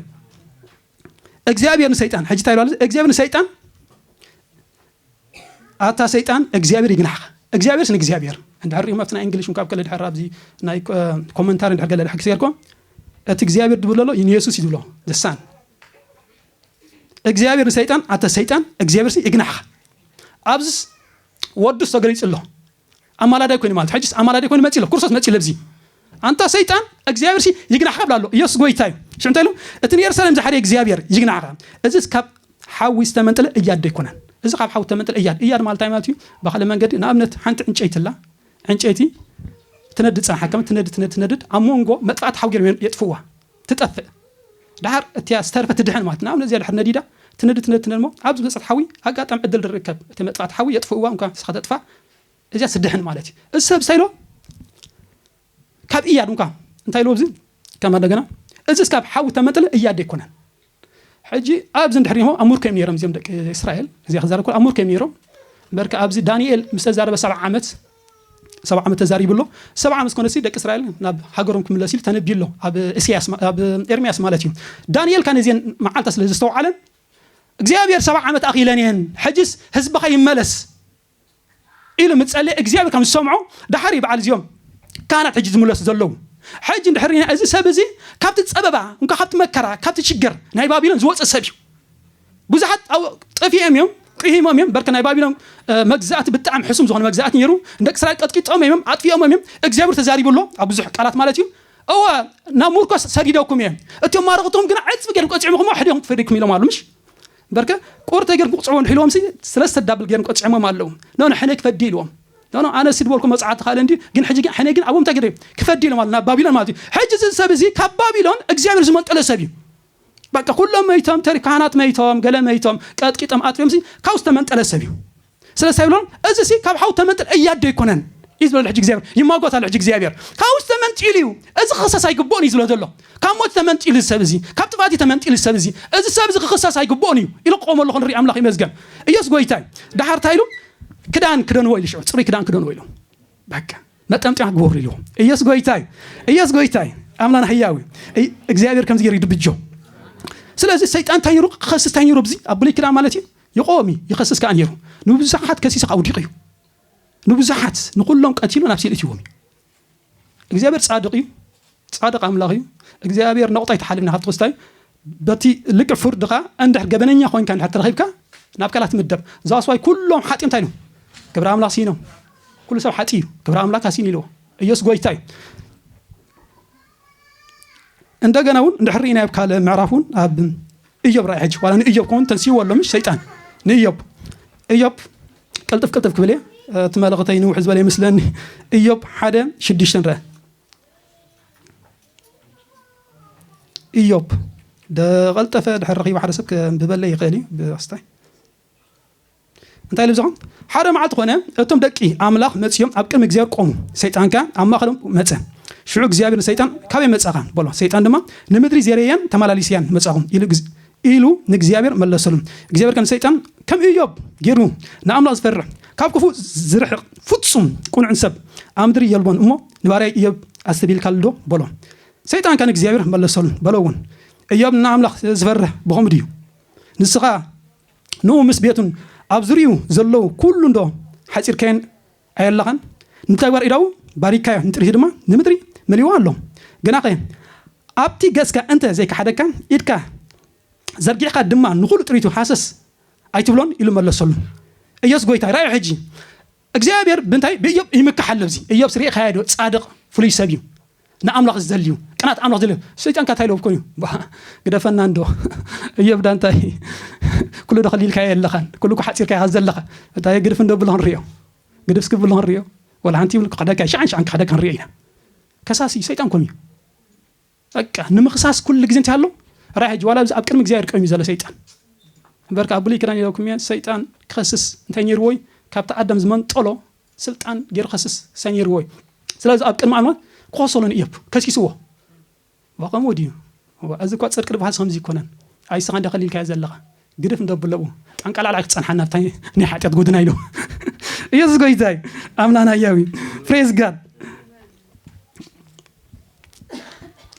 እግዚኣብሔር ንሰይጣን ሕጂ እንታይ ኢሉ እግዚኣብሔር ንሰይጣን ኣታ ሰይጣን እግዚኣብሔር ይግናሕኻ እግዚኣብሔርስ ንእግዚኣብሔር እንድሕር ሪኦም ኣብቲ ናይ እንግሊሽ ካብ ከለ ድሕር ኣብዚ ናይ ኮመንታሪ ድሕር ገለ ድሕር ክስገርኮ እቲ እግዚኣብሔር ድብሎ ኣሎ ንየሱስ እዩ ዝብሎ ዘሳን እግዚኣብሔር ንሰይጣን ኣንተ ሰይጣን እግዚኣብሔርሲ ይግናሕኻ ኣብዚስ ወዱስ ተገሊጹ ኣሎ ኣማላዳይ ኮይኑ ማለት ሕጅስ ኣማላዳይ ኮይኑ መጺ ኣሎ ክርስቶስ መጺ ለብዚ ኣንታ ሰይጣን እግዚኣብሔርሲ ይግናሕኻ ብላ ኣሎ ኢየሱስ ጎይታ እዩ ሽዑ እንታይ ኢሉ እቲ ንኤርሳሌም ዝሓደየ እግዚኣብሔር ይግናሕኻ እዚስ ካብ ሓዊ ዝተመንጠለ እያድ ዶ ኣይኮነን እዚ ካብ ሓዊ ዝተመንጠለ እያድ እያድ ማለት እንታይ ማለት እዩ ብካልእ መንገዲ ንኣብነት ሓንቲ ዕንጨይቲ ኣላ ዕንጨይቲ ትነድድ ፀንሓ ከም ትነድድ ትነድድ ትነድድ ኣብ መንጎ መጥፋእቲ ሓዊ ገይሮም የጥፍዋ ትጠፍእ ደሓር እቲያ ዝተርፈት ትድሕን ማለት ንኣብነት እዚኣ ድሕር ነዲዳ ትነድ ትነድ ትነድ እሞ ኣብ ዝመጸት ሓዊ ኣጋጣሚ ዕድል ድርከብ እቲ መጥፋእቲ ሓዊ የጥፍእዋ እንኳ ንስኻ ተጥፋእ እዚኣ ስድሕን ማለት እዩ እዚ ሰብ ሳይሎ ካብ እያድ እንኳ እንታይ ኢልዎ እዚ ከም እንደገና እዚ እስካብ ሓዊ ተመንጥለ እያድ ኣይኮነን ሕጂ ኣብዚ እንድሕሪሆ ኣብ ሙርከ እዮም ነይሮም እዚኦም ደቂ እስራኤል እዚኣ ክዛረብ ከሎ ኣብ ሙርከ እዮም ነይሮም በርካ ኣብዚ ዳንኤል ምስ ተዛረበ ሰብዓ ዓመት ሰብዓ ዓመት ተዛሪቡ ኣሎ ሰብዓ ዓመት ኮነሲ ደቂ እስራኤል ናብ ሃገሮም ክምለሱ ኢሉ ተነቢዩ ኣሎ ኣብ እስያስ ኣብ ኤርምያስ ማለት እዩ ዳንኤል ካን እዚን መዓልታ ስለ ዘስተውዓለን እግዚኣብሔር ሰብዓ ዓመት ኣኺለን እየን ሕጅስ ህዝብኻ ይመለስ ኢሉ ምስ ጸለየ እግዚኣብሔር ከም ዝሰምዖ ደሓር እዩ በዓል እዚኦም ካህናት ሕጂ ዝምለሱ ዘለዉ ሕጂ እንድሕር ሪኢና እዚ ሰብ እዚ ካብቲ ጸበባ እንኳ ካብቲ መከራ ካብቲ ሽግር ናይ ባቢሎን ዝወጽእ ሰብ እዩ ብዙሓት ኣብ ጠፊኦም እዮም ቅሂሞም እዮም በርክ ናይ ባቢሎን መግዛእቲ ብጣዕሚ ሕሱም ዝኾነ መግዛእቲ ነይሩ ንደቂ እስራኤል ቀጥቂጦም እዮም ኣጥፊኦምም እዮም እግዚኣብሔር ተዛሪቡ ኣሎ ኣብ ብዙሕ ቃላት ማለት እዩ እወ ናብ ሙርኮስ ሰዲደኩም እየ እቶም ማረኽትኹም ግና ዕፅቢ ገይሮም ቀፂዖምኹም ሕዲኦም ትፈዲኩም ኢሎም ኣሉ ምሽ እምበርከ ቁርጠይ ገርኩም ቅጽዕዎ እንድሒ ኢልዎምሲ ስለስተ ዳብል ገይሮም ቀጺዖሞም ኣለው ኖኖ ሕነይ ክፈዲ ኢልዎም ኖኖ ኣነሲ ድበልኩ መጽዓ ተኻእለ እንድዩ ግን ሕጂ ግን ሕነይ ግን ኣብኦም እንታይ ገይረ ክፈዲ ኢሎም ኣሉ ናብ ባቢሎን ማለት እዩ ሕጂ እዚ ሰብ እዚ ካብ ባቢሎን እግዚኣብሔር ዝመጠሎ ሰብ እዩ በቃ ኩሎም መይቶም ተሪ ካህናት መይቶም ገለ መይቶም ቀጥቂጦም ኣጥፊኦምሲ ካብ ዝተመንጠለ ሰብ እዩ ስለዚ ታይ ይብሎም እዚሲ ካብ ሓው ተመንጥል እያዶ ኣይኮነን እዩ ዝብለሉ ሕጂ እግዚኣብሔር ይማጎት ኣሎ ሕጂ እግዚኣብሔር ካብኡ ዝተመንጢሉ እዩ እዚ ክኽሰስ ኣይግብኦን እዩ ዝብሎ ዘሎ ካብ ሞት ተመንጢሉ እዚ ሰብ እዚ ካብ ጥፋት እዩ ተመንጢሉ እዚ ሰብ እዚ እዚ ሰብ እዚ ክኽሰስ ኣይግብኦን እዩ ኢሉ ክቆም ኣለኹ ንርኢ ኣምላኽ ይመስገን ኢየሱስ ጎይታ እዩ ዳሓር ታይ ኢሉ ክዳን ክደንዎ ኢሉ ሽዑ ጽሩይ ክዳን ክደንዎ ኢሉ በቃ መጠምጥያ ክገብሩ ኢልዎ ኢየሱስ ጎይታ እዩ ኢየሱስ ጎይታ እዩ ኣምላና ህያው እዩ እግዚኣብሔር ከምዚ ገይሩ ይድብጆ ስለዚ ሰይጣን እንታይ ነይሩ ክኸስስ እንታይ ነይሩ ኣብዚ ኣብ ብሉይ ክዳን ማለት እዩ ይቆም እዩ ይኸስስ ከኣ ነይሩ ንብዙሓት ከሲሱ ከኣ ውዲቁ እዩ ንብዙሓት ንኩሎም ቀቲሉ ናብ ሲል እትዎም እዩ እግዚኣብሔር ጻድቅ እዩ ጻድቅ ኣምላኽ እዩ እግዚኣብሔር ነቑጣ ይተሓልልና ካብ ትኽስታይ በቲ ልክዕ ፍርድኻ እንድሕር ገበነኛ ኮንካ እንድሕር ተረኺብካ ናብ ካላት ምደብ ዛስዋይ ኩሎም ሓጢ እንታይ ኢሎም ክብሪ ኣምላኽ ሲኖም ኩሉ ሰብ ሓጢ እዩ ክብሪ ኣምላኽ ኣሲን ኢልዎ ኢየሱስ ጎይታ እዩ እንደገና እውን እንድሕር ርኢና ኣብ ካልእ ምዕራፍ እውን ኣብ እዮብ ራእይ ሕጂ ዋላ ንእዮብ ከውን ተንስይዎ ኣሎ ምሽ ሰይጣን ንእዮብ እዮብ ቅልጥፍ ቅልጥፍ ክብል እየ እቲ መልእኽተይ ንውሕ ዝበለ ይመስለኒ እዮብ ሓደ ሽዱሽተ ንርአ እዮብ ደቐልጠፈ ድሕር ረኺቡ ሓደ ሰብ ከንብበለይ ይኽእል እዩ ብክስታይ እንታይ ኢሉ ይብጽሖም? ሓደ መዓልቲ ዀነ፣ እቶም ደቂ ኣምላኽ መጺኦም ኣብ ቅድሚ እግዚኣብሄር ቈሙ፣ ሰይጣን ከኣ ኣብ ማእከሎም መጸ። ሽዑ እግዚኣብሄር ንሰይጣን፣ ካበይ መጻኻ? በሎ። ሰይጣን ድማ፣ ንምድሪ ዜርየያን ተመላሊሰያን መጻኹ ኢሉ ንእግዚኣብሄር መለሰሉ። እግዚኣብሄር ከኣ ንሰይጣን፣ ከም እዮብ ጌሩ ንኣምላኽ ዚፈርሕ፣ ካብ ክፉእ ዚርሕቕ፣ ፍጹም ቅኑዕን ሰብ ኣብ ምድሪ የልቦን እሞ፣ ንባርያይ እዮብ ኣስተብሂልካሉዶ? በሎ። ሰይጣን ከኣ ንእግዚኣብሄር መለሰሉ፣ በሎውን፣ እዮብ ንኣምላኽ ዚፈርህ ብኸምኡ ድዩ? ንስኻ ንኡ ምስ ቤቱን ኣብ ዙርይኡ ዘለዉ ኩሉ እንዶ ሓጺርካዮን ኣየለኻን ንተግባር ኢዳዉ ባሪካዮ ንጥሪቱ ድማ ንምድሪ መሊእዋ ኣሎ ግናኸ ኣብቲ ገጽካ እንተ ዘይከሓደካ ኢድካ ዘርጊሕካ ድማ ንኹሉ ጥሪቱ ሃሰስ ኣይትብሎን ኢሉ መለሰሉ ኢየሱስ ጎይታይ ረኣዮ ሕጂ እግዚኣብሔር ብምንታይ ብእዮብ ይምካሕ ኣሎ እዚ እዮብስ ሪእኻዮ ዶ ጻድቕ ፍሉይ ሰብ እዩ ንኣምላኽ ዝደሊ እዩ ቅናት ኣምላኽ ዝደሊ ሰይጣን ካታይ ሎብ ኮይኑ ባህ ግደፈና እንዶ እዮብ ዳ እንታይ ኩሉ ዶ ከሊልካዮ ኣለኻን ኩሉ እኮ ሓጺርካዮ ካብ ዘለኻ እንታይ ግድፍ እንዶ ብሎ ክንሪኦ ግድፍ እስኪ ብሎ ክንሪኦ ወላ ሓንቲ ይብሉ ክኽደካ ሽዓን ሽዓን ክኽደካ ክንሪኦ ኢና ከሳሲ ሰይጣን ኮን እዩ በቃ ንምኽሳስ ኩሉ ግዜ እንታይ ኣሎ ራይ ሕጂ ዋላ ኣብ ቅድሚ እግዚኣብሔር ቀይሙ ዘሎ ሰይጣን እምበርካ ኣብ ብሉይ ክዳን ኢለኩም እየ ሰይጣን ክኸስስ እንታይ ነይርዎ እዩ ካብቲ ኣዳም ዝመንጠሎ ስልጣን ገይሩ ከስስ ሳይ ነይርዎ እዩ ስለዚ ኣብ ቅድሚ ኣምላኽ ክኸሰሉ ንእዮብ ከሲስዎ ከምኡ ድዩ እዚ እኳ ፅድቂ ድበሃል ከምዚ ይኮነን ኣይስኻ እንዳ ከሊልካዮ ዘለኻ ግድፍ እንዶ ኣብሎኡ ጠንቀላዕላዕ ክጸንሓና ኣብታ ናይ ሓጢኣት ጎድና ኢሉ ኢየሱስ ጎይታ እዩ ኣምላና ህያው እዩ ፕሬዝ ጋድ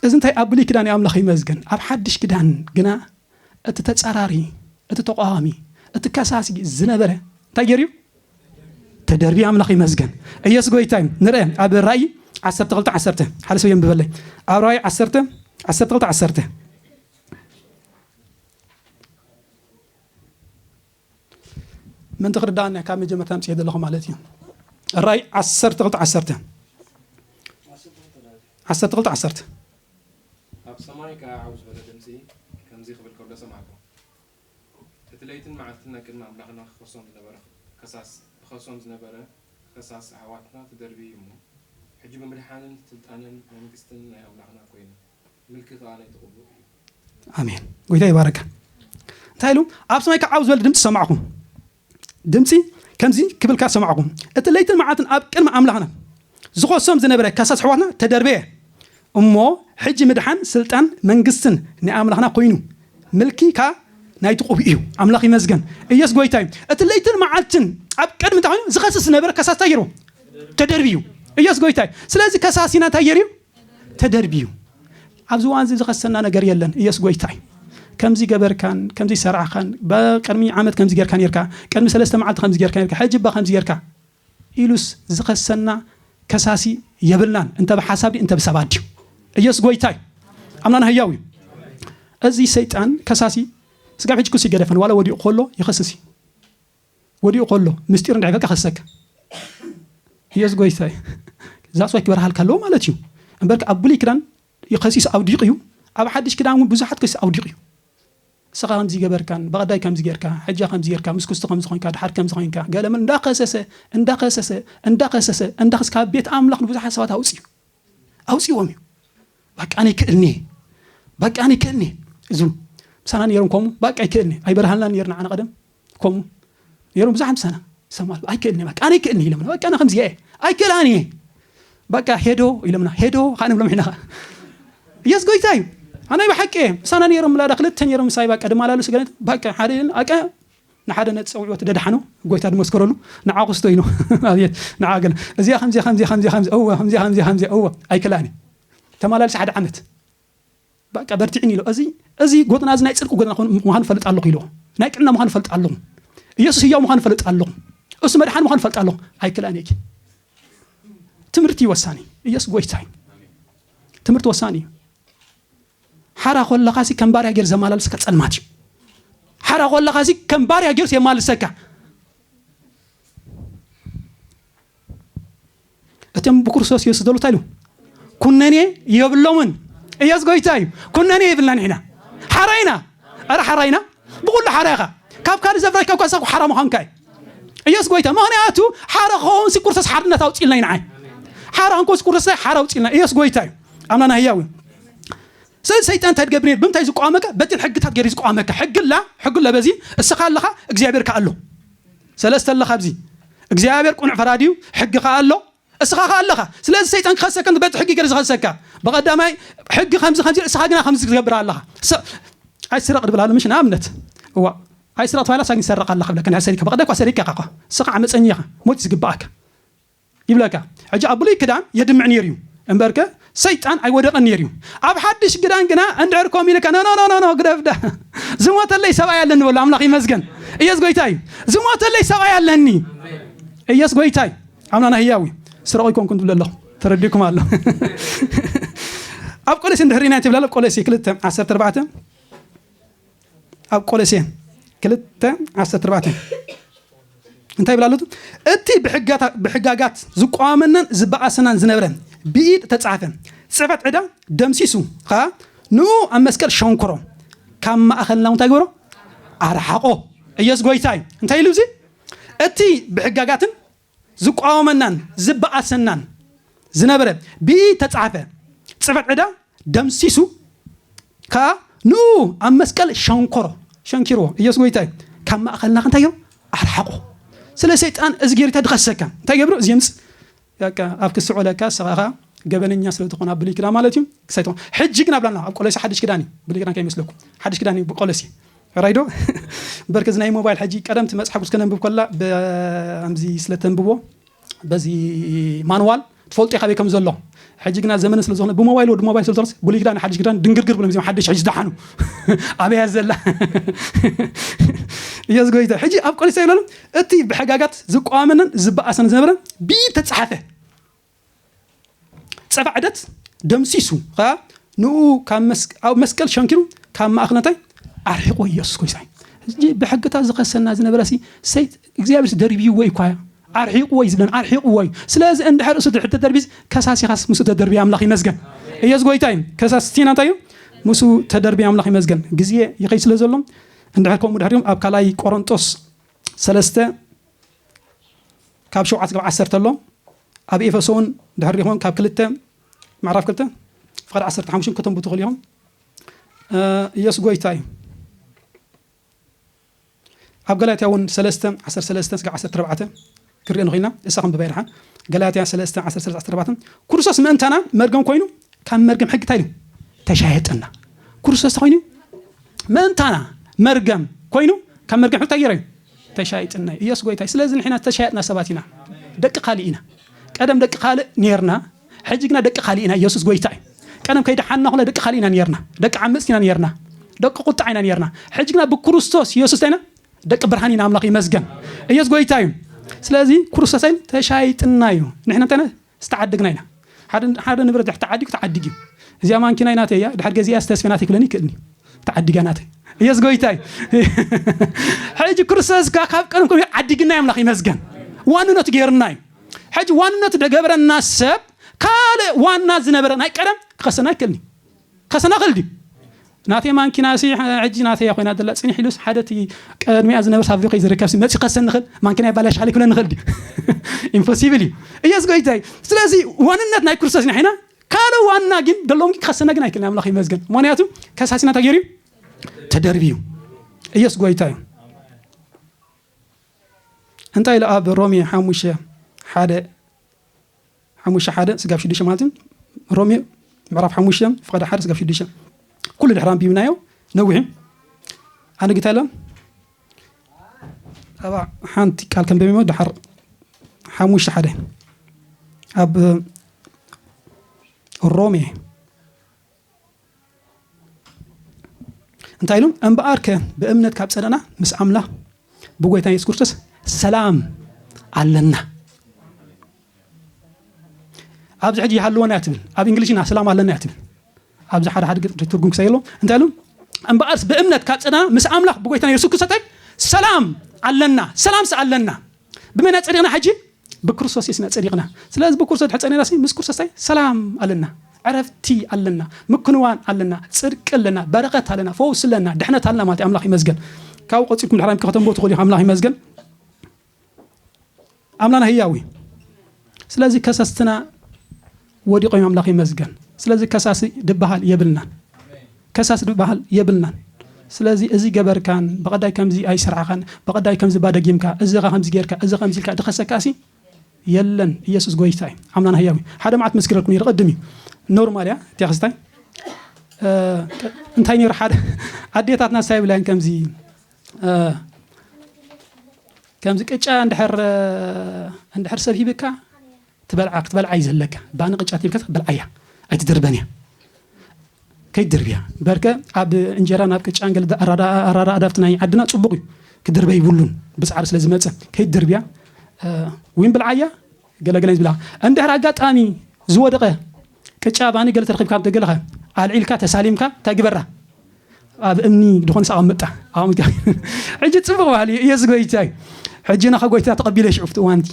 እዚ እንታይ ኣብ ብሉይ ኪዳን እዩ ኣምላኽ ይመስገን ኣብ ሓድሽ ኪዳን ግና እቲ ተጻራሪ እቲ ተቋዋሚ እቲ ከሳሲ ዝነበረ እንታይ ገይሩ እዩ ተደርቢ ኣምላኽ ይመስገን ኢየሱስ ጎይታ እዩ ንርአ ኣብ ራእይ 12 10 ሓደ ሰብ የንብበለይ ኣብ ራእይ 12 12 ዓሰርተ ምእንቲ ክርድኣና ካብ መጀመርታ ኣምፅኤ ዘለኹ ማለት እዩ ራይ ዓሰርተ ክልተ ዓሰርተ ዓሰርተ ክልተ ዓሰርተ ኣብ ሰማይ ከዓ ዓው ዝበለ ድምፂ ከምዚ ክብል ከሎ ሰማዕኩ እቲ ለይትን መዓልትን ናይ ቅድሚ ኣምላኽና ክኸሶም ዝነበረ ከሳስ ክኸሶም ዝነበረ ኸሳስ ኣሕዋትና ተደርብዩ እሞ ሕጂ ብምድሓንን ስልጣንን መንግስትን ናይ ኣምላኽና ኮይኑ ምልኪ ከኣ ነቲ ቅቡእ እዩ። ኣሜን ጎይታ ይባረከ እንታይ ኢሉ ኣብ ሰማይ ክዓብ ዝበል ድምፂ ሰማዕኹ ድምፂ ከምዚ ክብልካ ሰማዕኹ እቲ ለይትን መዓልትን ኣብ ቅድሚ ኣምላኽና ዝኾሶም ዝነበረ ከሳስ ኣሕዋትና ተደርበየ እሞ ሕጂ ምድሓን ስልጣን መንግስትን ናይ ኣምላኽና ኮይኑ ምልኪ ካዓ ናይቲ ቁብ እዩ ኣምላኽ ይመስገን ኢየሱስ ጎይታ እዩ እቲ ለይትን መዓልትን ኣብ ቅድሚ እንታይ ኮይኑ ዝኸስስ ዝነበረ ከሳስ እንታይ ገይሩ ተደርብዩ ኢየሱስ ጎይታ እዩ ስለዚ ከሳሲና እንታይ ገይሩ እዩ ተደርብዩ ኣብዚ እዋን እዚ ዝኸሰና ነገር የለን ኢየሱስ ጎይታ እዩ ከምዚ ገበርካን ከምዚ ሰርዕኻን ቅድሚ ዓመት ከምዚ ጌርካ ነርካ ቅድሚ ሰለስተ መዓልቲ ከምዚ ጌርካ ነርካ ሕጂ እባ ከምዚ ጌርካ ኢሉስ ዝኸሰና ከሳሲ የብልናን እንተ ብሓሳብ ድዩ እንተ ብሰባት ድዩ ኢየሱስ ጎይታ እዩ ኣምላና ህያው እዩ እዚ ሰይጣን ከሳሲ ስጋብ ሕጂ ክሱ ይገደፈን ዋላ ወዲኡ ከሎ ይኸስስ እዩ ወዲኡ ከሎ ምስጢር እንድሕር በልካ ክሰካ ኢየሱስ ጎይታ እዩ that's why ክበርሃልካ ኣለዎ ማለት እዩ እምበር ከ ኣብ ብሉይ ክዳን ከሲሱ ኣውዲቑ እዩ ኣብ ሓድሽ ክዳን እውን ብዙሓት ከሲሱ ኣውዲቑ እዩ ንስኻ ከምዚ ገበርካን በቐዳይ ከምዚ ጌርካ ሕጃ ከምዚ ጌርካ ምስ ክስቶ ከምዚ ኮንካ ድሓር ከምዚ ኮንካ ገለምን እንዳኸሰሰ እንዳኸሰሰ እንዳኸሰሰ እንዳኸስ ካብ ቤት ኣምላኽ ንብዙሓት ሰባት ኣውፅዩ ኣውፅዎም እዩ በቃ ኣነ ይክእልኒ በቃ ኣነ ይክእልኒ እዙ ምሳና ነይሮም ከምኡ በቃ ይክእልኒ ኣይበርሃልና ነይርና ዓነ ቀደም ከምኡ ነይሮም ብዙሓት ምሳና ይሰማሉ ኣይክእልን እየ ኣነ ኣይክእልን እየ ኢሎምና በቃ ኣነ ከምዚ እየ ኣይክእላን እየ በቃ ሄዶ ኢሎምና ሄዶ ከዓ ንብሎም ሕና ከዓ ኢየሱስ ጎይታ እዩ ኣነ ብሓቂ እየ ምሳና ነይሮም ላዳ ክልተ ነይሮም ምሳይ በቃ ድማላልሱ ገለ በቃ ሓደ ኣቀ ንሓደ ነቲ ፀውዕወት ደድሓኖ ጎይታ ድመስከረሉ ንዓ ክስቶ ኢኖ ኣብየት ንዓ ገለ እዚኣ ከምዚ ከምዚ ከምዚ ከምዚ እወ ከምዚ ከምዚ ከምዚ እወ ኣይክእላን እዩ ተመላልሲ ሓደ ዓመት በቃ በርትዕኒ ኢሎ እዚ እዚ ጎድና እዚ ናይ ጽድቂ ጎድና ምዃኑ ፈልጥ ኣለኹ ኢሎ ናይ ጥዕና ምዃኑ ፈልጥ ኣለኹ ኢየሱስ ህያው ምዃኑ ፈልጥ ኣለኹ እሱ መድሓን ምዃኑ ፈልጥ ኣለኹ ኣይክላን እየ ትምህርቲ እዩ ወሳኒ ኢየሱስ ጎይታ እዩ ትምህርቲ ወሳኒ እዩ ሓራ ኮለኻ ሲ ከም ባርያ ገይር ዘመላልስካ ጸልማት እዩ ሓራ ኮለኻ ሲ ከም ባርያ ገይርስ የማልሰካ እቶም ብክርስቶስ ኢየሱስ ዘለዉ እንታይ ኢሉ ኩነኔ የብሎምን ኢየሱስ ጎይታ እዩ ኩነኔ የብልና ንሕና ሓራ ኢና ኣረ ሓራ ኢና ብኩሉ ሓራ ኢኻ ካብ ካልእ ዘፍራሽ ካብ ካሳኩ ሓራ ምዃንካ እዩ ኢየሱስ ጎይታ ምክንያቱ ሓራ ክኸውን ሲ ክርስቶስ ሓርነት ኣውፅልና ይንዓይ ሓራ እንኮስ ክርስቶስ ሓራ ኣውፅልና ኢየሱስ ጎይታ እዩ ኣምላና ህያው እዩ ስለዚ ሰይጣን እንታይ ትገብር ነይሩ ብምንታይ ዝቋመካ በትን ሕግታት ገይሩ ዝቋመካ ሕግላ ሕግሎ በዚ እስኻ ኣለኻ እግዚኣብሔር ከ ኣሎ ሰለስተ ኣሎ ካብዚ እግዚኣብሔር ቁኑዕ ፈራዲ እዩ ሕጊ ከኣ ኣሎ እስኻ ከኣ ኣለኻ ስለዚ ሰይጣን ክኸሰከ በቲ ሕጊ ገር ዝኸሰካ ብቐዳማይ ሕጊ ከምዚ ከምዚ እስኻ ግና ከምዚ ትገብር ኣለኻ ኣይስረቕ ድብል ኣሎ ምሽ ንኣብነት እዋ ኣይስረቕ ተባሂላ ሳግን ሰረቕ ኣለኻ ብለካ ናይ ሰሪካ ብቐዳ እኳ ሰሪካ እኳ እስኻ ዓመፀኛ ኢኻ ሞት ዝግብኣካ ይብለካ ሕጂ ኣብ ብሉይ ክዳን የድምዕ ኔሩ እዩ እምበርከ ሰይጣን ኣይወደቀን ኔሩ እዩ ኣብ ሓድሽ ግዳን ግና እንድሕር ከምኡ ኢልካ ኖኖኖኖ ግደፍ ዳ ዝሞተለይ ሰብኣይ ኣለኒ በሉ ኣምላኽ ይመስገን እየስ ጎይታ እዩ ዝሞተለይ ሰብኣይ ኣለኒ እየስ ጎይታ እዩ ኣምላና ህያው እዩ ስረቁ ይኮንኩን ትብለ ኣለኹ ተረዲኩም ኣሎ ኣብ ቆለሴ እንድሕር ኢና ትብለ ኣሎ ቆለሴ ክልተ ዓሰርተ ኣርባዕተ ኣብ ቆሎሴን ክልተ ዓሰርተ ኣርባዕተ እንታይ ይብል ኣሎ? እቲ ብሕጋጋት ዝቋወመናን ዝበኣሰናን ዝነብረ ብኢድ እተጻሕፈ ጽሕፈት ዕዳ ደምሲሱ ኸኣ ንኡ ኣብ መስቀል ሸንኩሮ ካብ ማእኸልና እንታይ ገበሮ ኣርሓቆ። ኢየሱስ ጎይታ እዩ። እንታይ ኢሉ እዚ እቲ ብሕጋጋትን ዝቋወመናን ዝበኣሰናን ዝነበረ ብኢድ ተጻሕፈ ጽሕፈት ዕዳ ደምሲሱ ከኣ ንእኡ ኣብ መስቀል ሸንኮሮ፣ ሸንኪርዎ፣ ኢየሱስ ጎይታ እዩ፣ ካብ ማእኸልና እንታይ ገይሩ ኣርሓቖ። ስለ ሰይጣን እዚ ገይሩ እንታይ ድኸሰካ እንታይ ገብሩ ዜምጽ ያካ ኣብ ክስዖ ለካ ስኻ ኸኣ ገበነኛ ስለ ትኾን ኣብ ብሉይ ክዳን ማለት እዩ ክሳይቶ ሕጂ ግን ኣብላና ኣብ ቆሎሲ ሓድሽ ክዳን እዩ ብሉይ ክዳን ከይመስለኩም ሓድሽ ክዳን እዩ ቆሎሲ ሕራይ ዶ በርክ እዚ ናይ ሞባይል ሕጂ ቀደም ትመጽእ ሓጉስ ከነንብብ ኮላ ብኣምዚ ስለ ተንብቦ በዚ ማንዋል ትፈልጦ ካበይ ከም ዘሎ ሕጂ ግና ዘመነ ስለ ዝኾነ ብሞባይል ወዲ ሞባይል ስለ ዝኾነስ ብሉይ ክዳን ሓድሽ ክዳን ድንግርግር ብሎም እዚኦም ሓድሽ ሕጂ ዝደሓኑ ኣበያ ዘላ እየስ ጎይታ ሕጂ ኣብ ቆሊሳ ይብለሎም እቲ ብሕጋጋት ዝቋመነን ዝበኣሰን ዝነበረ ብኢድ ተጻሓፈ ጸባ ዕደት ደምሲሱ ኸኣ ንኡ ኣብ መስቀል ሸንኪሩ ካብ ማእኽነታይ ኣርሒቆ ኢየሱስ ኮይሳይ እዚ ብሕግታት ዝኸሰና ዝነበረ ሲ ሰይት እግዚኣብሔር ደርብይዎ እዩ ኳያ ኣርሒቅዎ እዩ ዝብለን ኣርሒቅዎ እዩ ስለዚ እንድሕር እሱ ተደርቢዝ ከሳሲኻስ ምስ ተደርቢ ኣምላኽ ይመስገን እየስ ጎይታ እዩ ከሳሲና እንታይ እዩ ምስ ተደርቢ ኣምላኽ ይመስገን ግዜ ይኸይ ስለ ዘሎ እንድሕር ከምኡ ድሕሪም ኣብ ካልኣይ ቆሮንጦስ ሰለስተ ካብ ሸውዓት ካብ ዓሰርተ ኣሎ ኣብ ኤፈሶን ድሕሪኹም ካብ ክልተ ምዕራፍ ክልተ ፍቓድ ዓሰርተ ሓሙሽን ከተንቡ ትኽእሉ ኢኹም ኢየሱስ ጎይታ እዩ ኣብ ገላትያ እውን ሰለስተ ዓሰርተ ሰለስተ ስጋ ዓሰርተ ኣርባዕተ ክሪኦ ንኽኢልና እሳ ክንብባ ይርሓን ገላትያ ሰለስተ ዓሰርተ ሰለስተ ዓሰርተ ኣርባዕተ ክርስቶስ ምእንታና መርገም ኮይኑ ካብ መርገም ሕጊ እንታይ ኢሉ ተሻየጠና ክርስቶስ ኮይኑ ምእንታና መርገም ኮይኑ ካብ መርገም ሕቶ ጌረ እዩ ተሻይጥና እዩ ኢየሱስ ጎይታይ ስለዚ ንሕና ተሻያጥና ሰባት ኢና ደቂ ካልእ ኢና ቀደም ደቂ ካልእ ኔርና ሕጂ ግና ደቂ ካልእ ኢና ኢየሱስ ጎይታ እዩ ቀደም ከይደሓንና ኩላ ደቂ ካልእ ኢና ኔርና ደቂ ዓመፅቲ ኢና ኔርና ደቂ ቁጣዕ ኢና ኔርና ሕጂ ግና ብክርስቶስ ኢየሱስ እንታይ ኢና ደቂ ብርሃን ኢና ኣምላኽ ይመስገን ኢየሱስ ጎይታ እዩ ስለዚ ክርስቶስ ተሻይጥና እዩ ንሕና እንታይ ዝተዓደግና ኢና ሓደ ንብረት ድሕር ተዓዲጉ ተዓዲጉ እዩ እዚኣ ማንኪናይ ናተይ እያ ድሕር ገዚኣ ዝተስፈ ናተይ ክብለኒ ይክእልኒ ተዓዲጋ ናተይ ኢየሱስ ጎይታ እዩ ሕጂ ክርስቶስ ካብ ቀደም ከ ዓዲግና ኣምላኽ ይመስገን ዋንነቱ ገይርና እዩ ሕጂ ዋንነቱ ደገብረና ሰብ ካልእ ዋና ዝነበረ ናይ ቀደም ክኸሰና ይክእልኒ ከሰናኽል ድዩ ናተይ ማንኪናሲ ሕጂ ናተይ ኮይና ዘላ ጽኒሕ ኢሉስ ሓደ እቲ ቀድሚኣ ዝነበርስ ኣብዚ ከይዝርከብሲ መጺኡ ከሰንኽል ማንኪና ይባላሽ ሓሊ ክብለኒ ይኽእል ድዩ ኢምፖሲብል እዩ እየስ ጎይታይ ስለዚ ዋንነት ናይ ክርስቶስ ኢና ሒና ካለ ዋና ግን ደሎም ግን ክኸሰና ግን ኣይክልን ኣምላኽ ይመስገን ምክንያቱ ከሳሲና እንታይ ገይሩ ተደርቢ እዩ እየስ ጎይታ እዩ እንታይ ኢሉ ኣብ ሮሜ ሓሙሽተ ሓደ ሓሙሽተ ሓደ ስጋብ ሽዱሽተ ማለት እዩ ሮሜ ምዕራፍ ሓሙሽተ ፍቐደ ሓደ ስጋብ ሽዱሽተ ኩሉ ድሕሪ ኣንቢብናዮ ነዊሕ እዩ ኣነ ግታ ኢለ ኣብ ሓንቲ ቃል ከንበሚሞ ድሓር ሓሙሽተ ሓደ ኣብ ሮሜ እንታይ ኢሉ እምበኣርከ ብእምነት ካብ ጸደና ምስ ኣምላ ብጎይታ የሱስ ክርስቶስ ሰላም ኣለና ኣብዚ ሕጂ ይሃልወና እያ ትብል ኣብ እንግሊሽ ኢና ሰላም ኣለና እያ ትብል ኣብዚ ሓደ ሓደ ግጥሪ ትርጉም ክሰይ ኣሎ እንታይ ኢሉ እምበኣርስ ብእምነት ካብ ፀና ምስ ኣምላኽ ብጎይታና የሱስ ክርስቶስ ሰላም ኣለና ሰላምስ ኣለና ብመን ኣጸዲቕና ሕጂ? ብክርስቶስ የሱስ ኢና ጸዲቕና። ስለዚ ብክርስቶስ ድሕሪ ጸኒዕናሲ ምስ ክርስቶስ እንታይ ሰላም ኣለና፣ ዕረፍቲ ኣለና፣ ምክንዋን ኣለና፣ ጽድቂ ኣለና፣ በረኸት ኣለና፣ ፈውሲ ኣለና፣ ድሕነት ኣለና ማለት እዩ። ኣምላኽ ይመስገን። ካብኡ ቀጺልኩም ድሕራይ ከተንብቡ ትኽእሉ ኢኹም። ኣምላኽ ይመስገን። ኣምላና ህያው እዩ። ስለዚ ከሰስትና ወዲቆም እዮም ኣምላክ ይመስገን ስለዚ ከሳሲ ድበሃል የብልናን ከሳሲ ድበሃል የብልናን ስለዚ እዚ ገበርካን በቀዳይ ከምዚ ኣይስራዕካን በቀዳይ ከምዚ እባ ደጊምካ እዚ እካ ከምዚ ገርካ እዚ ከምዚ ኢልካ ድከሰካሲ የለን ኢየሱስ ጎይታ እዩ ኣምላና ህያው እዩ ሓደ መዓት መስክረልኩ ነይረ ቅድም እዩ ኖርማል እያ ቴክስታይ እንታይ ነይሩ ሓደ ኣዴታትና ሳይ ብላያን ከምዚ ከምዚ ቅጫ እንድሕር እንድሕር ሰብ ሂብካ ትበልዓ ክትበልዓ እዩ ዘለካ ባኒ ቅጫት ኢልካ ትበልዓያ ኣይትድርበን እያ ከይትድርብያ በርከ ኣብ እንጀራ ናብ ቅጫን ገለ ኣራዳዳፍቲ ናይ ዓድና ጽቡቅ እዩ ክድርበ ይብሉን ብጻዕሪ ስለ ዝመጸ ከይትድርብያ ወይም ብልዓያ ገለገለ ዝብላ እንድሕር ኣጋጣሚ ዝወደቀ ቅጫ ባኒ ገለ ተረኪብካ ገለኸ ኣልዒልካ ተሳሊምካ እንታይ ግበራ ኣብ እምኒ ድኾን ሳብ መጣ ኣምታ ሕጂ ጽቡቅ ባህሊ ኢየሱስ ጎይታ እዩ ሕጂ ናኸ ጎይታ ተቐቢለ ሽዑ ፍቲ እዋንቲ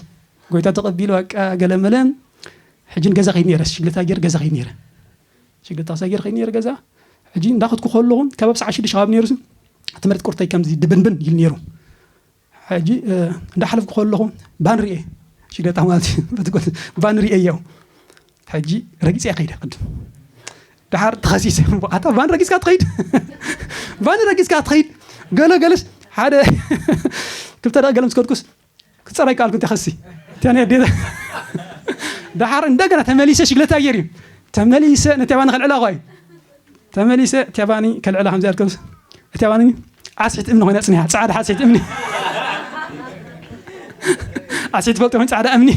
ጎይታ ተቀቢሉ በቃ ገለ መለ ሕጂ ን ገዛ ከይድ ነይረ ሽግለታ ገይረ ገዛ ከይድ ነይረ ሽግለታ ክሳ ገይረ ከይድ ነይረ ገዛ ሕጂ እንዳኸትኩ ከለኹ ከባብ ሰዓ ሽዱሽተ ከባቢ ነይሩ እቲ መሬት ቁርተይ ከምዚ ድብንብን ይል ነይሩ ሕጂ እንዳሓለፍኩ ከለኹ ባን ርኤ ሽግለታ ማለት እዩ ባን ርኤዮ ሕጂ ረጊፀያ ከይደ ቅድም ድሓር ተኸሲሰ ኣታ ባን ረጊፅካ ትኸይድ ባን ረጊፅካ ትኸይድ ገለ ገለስ ሓደ ክልተ ደቂ ገለ ምስ ከድኩስ ክጸረይ ቃል ግን ተኸሲ ተኔ ዴታ ደሓር እንደገና ተመሊሰ ሽግለታ ጌር እዩ ተመሊሰ ነትያባኒ ከልዕላ ኳ እዩ ተመሊሰ ትያባኒ ከልዕላ ከምዚ ኣልከብስ እትያባኒ ዓስሒት እምኒ ኮይና ጽኒሓ ጻዕዳ ዓስሒት እምኒ ዓስሒት ፈልጦ ኮይኑ ጻዕዳ እምኒ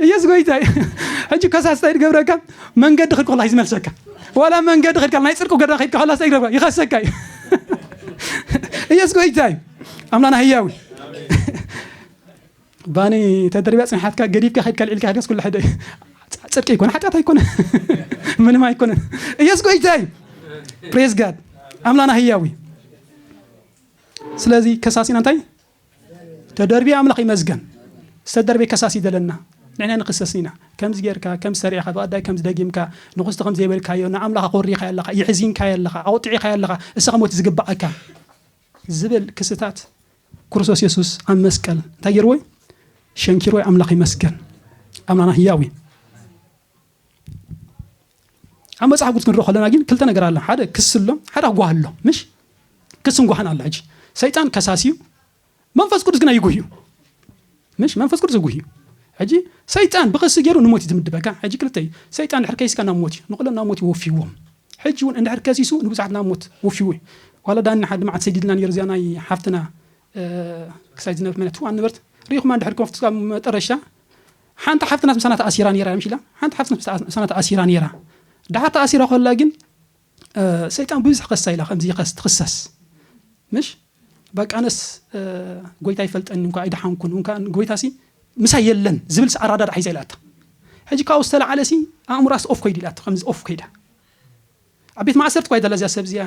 እየስ ጎይታ እዩ ሕጂ ከሳስታ ይገብረካ መንገዲ ክድኩላ እዩ ዝመልሰካ ዋላ መንገዲ ክድካ ናይ ጽድቁ ገዳ ከይድካ ከላስታ ይገብረካ ይኸሰካ እዩ ኢየሱስ ጎይታ እዩ ኣምላና ህያው ባኒ ተደሪብያ ፅንሓትካ ገዲፍካ ከድካ ልዒልካ ከድካስ ኩሉ ሕደ ፅድቂ ኣይኮነ ሓጢኣት ኣይኮነ ምንም ኣይኮነ ኢየሱስ ጎይታ እዩ ፕሬዝ ጋድ ኣምላና ህያው እዩ ስለዚ ከሳሲና እንታይ ተደርብዩ ኣምላኽ ይመዝገን ዝተደርበ ከሳሲ ደለና ንሕና ንክሰስ ኢና ከምዚ ጌርካ ከምዚ ሰሪዕኻ ብቀዳይ ከምዚ ደጊምካ ንኩስቲ ከም ዘይበልካዮ ንኣምላኽ ኣኾሪኻዮ ኣለኻ የሕዚንካዮ ኣለኻ ኣቁጢዒኻዮ ኣለኻ እሰኻ ሞት ዝግብኣካ ዝብል ክስታት ክርስቶስ የሱስ ኣብ መስቀል እንታይ ጌርዎ ሸንኪርዎ ኣምላኽ ይመስገን ኣምላኽና ህያው እዩ ኣብ መጽሓፍ ቅዱስ ክንሪኦ ከለና ግን ክልተ ነገር ኣሎ ሓደ ክስ ኣሎ ሓደ ኣጓህ ኣሎ ምሽ ክስን ጓህን ኣሎ ሕጂ ሰይጣን ከሳሲ እዩ መንፈስ ቅዱስ ግና ይጉህ እዩ ምሽ መንፈስ ቅዱስ ይጉህ እዩ ሕጂ ሰይጣን ብክሲ ገይሩ ንሞት እዩ ዝምድበካ ሕጂ ክልተ እዩ ሰይጣን ድሕር ከይስካ ናብ ሞት እዩ ንኩሎም ናብ ሞት ይወፍይዎም ሕጂ እውን እንድሕር ከሲሱ ንብዙሓት ናብ ሞት ወፍይዎ እዩ ዋላ ዳኒ ሓደ መዓት ሰዲድና ነይሩ እዚኣ ናይ ሓፍትና ክሳይ ዝነበርት መነት ዋን ነበርት ሪኢኹማ እንድሕር ከፍትካ መጠረሻ ሓንቲ ሓፍትናስ ምሳና ተኣሲራ ነይራ ምሽ ኢላ ሓንቲ ሓፍትናስ ምሳና ተኣሲራ ነይራ ደሓር ተኣሲራ ከላ ግን ሰይጣን ብብዝሕ ከሳ ኢላ ከምዚ ከስ ትክሰስ ምሽ በቃ ነስ ጎይታ ይፈልጠኒ እንኳ ኣይደሓንኩን እንኳ ጎይታ ሲ ምሳይ የለን ዝብል ኣራዳዳ ሒዛ ኢላታ ሕጂ ካብኡ ዝተለዓለ ሲ ኣእምራስ ኦፍ ኮይዱ ኢላታ ከምዚ ኦፍ ኮይዳ ኣብ ቤት ማእሰርቲ እኳ እያ ዘላ እዚኣ ሰብ እዚኣ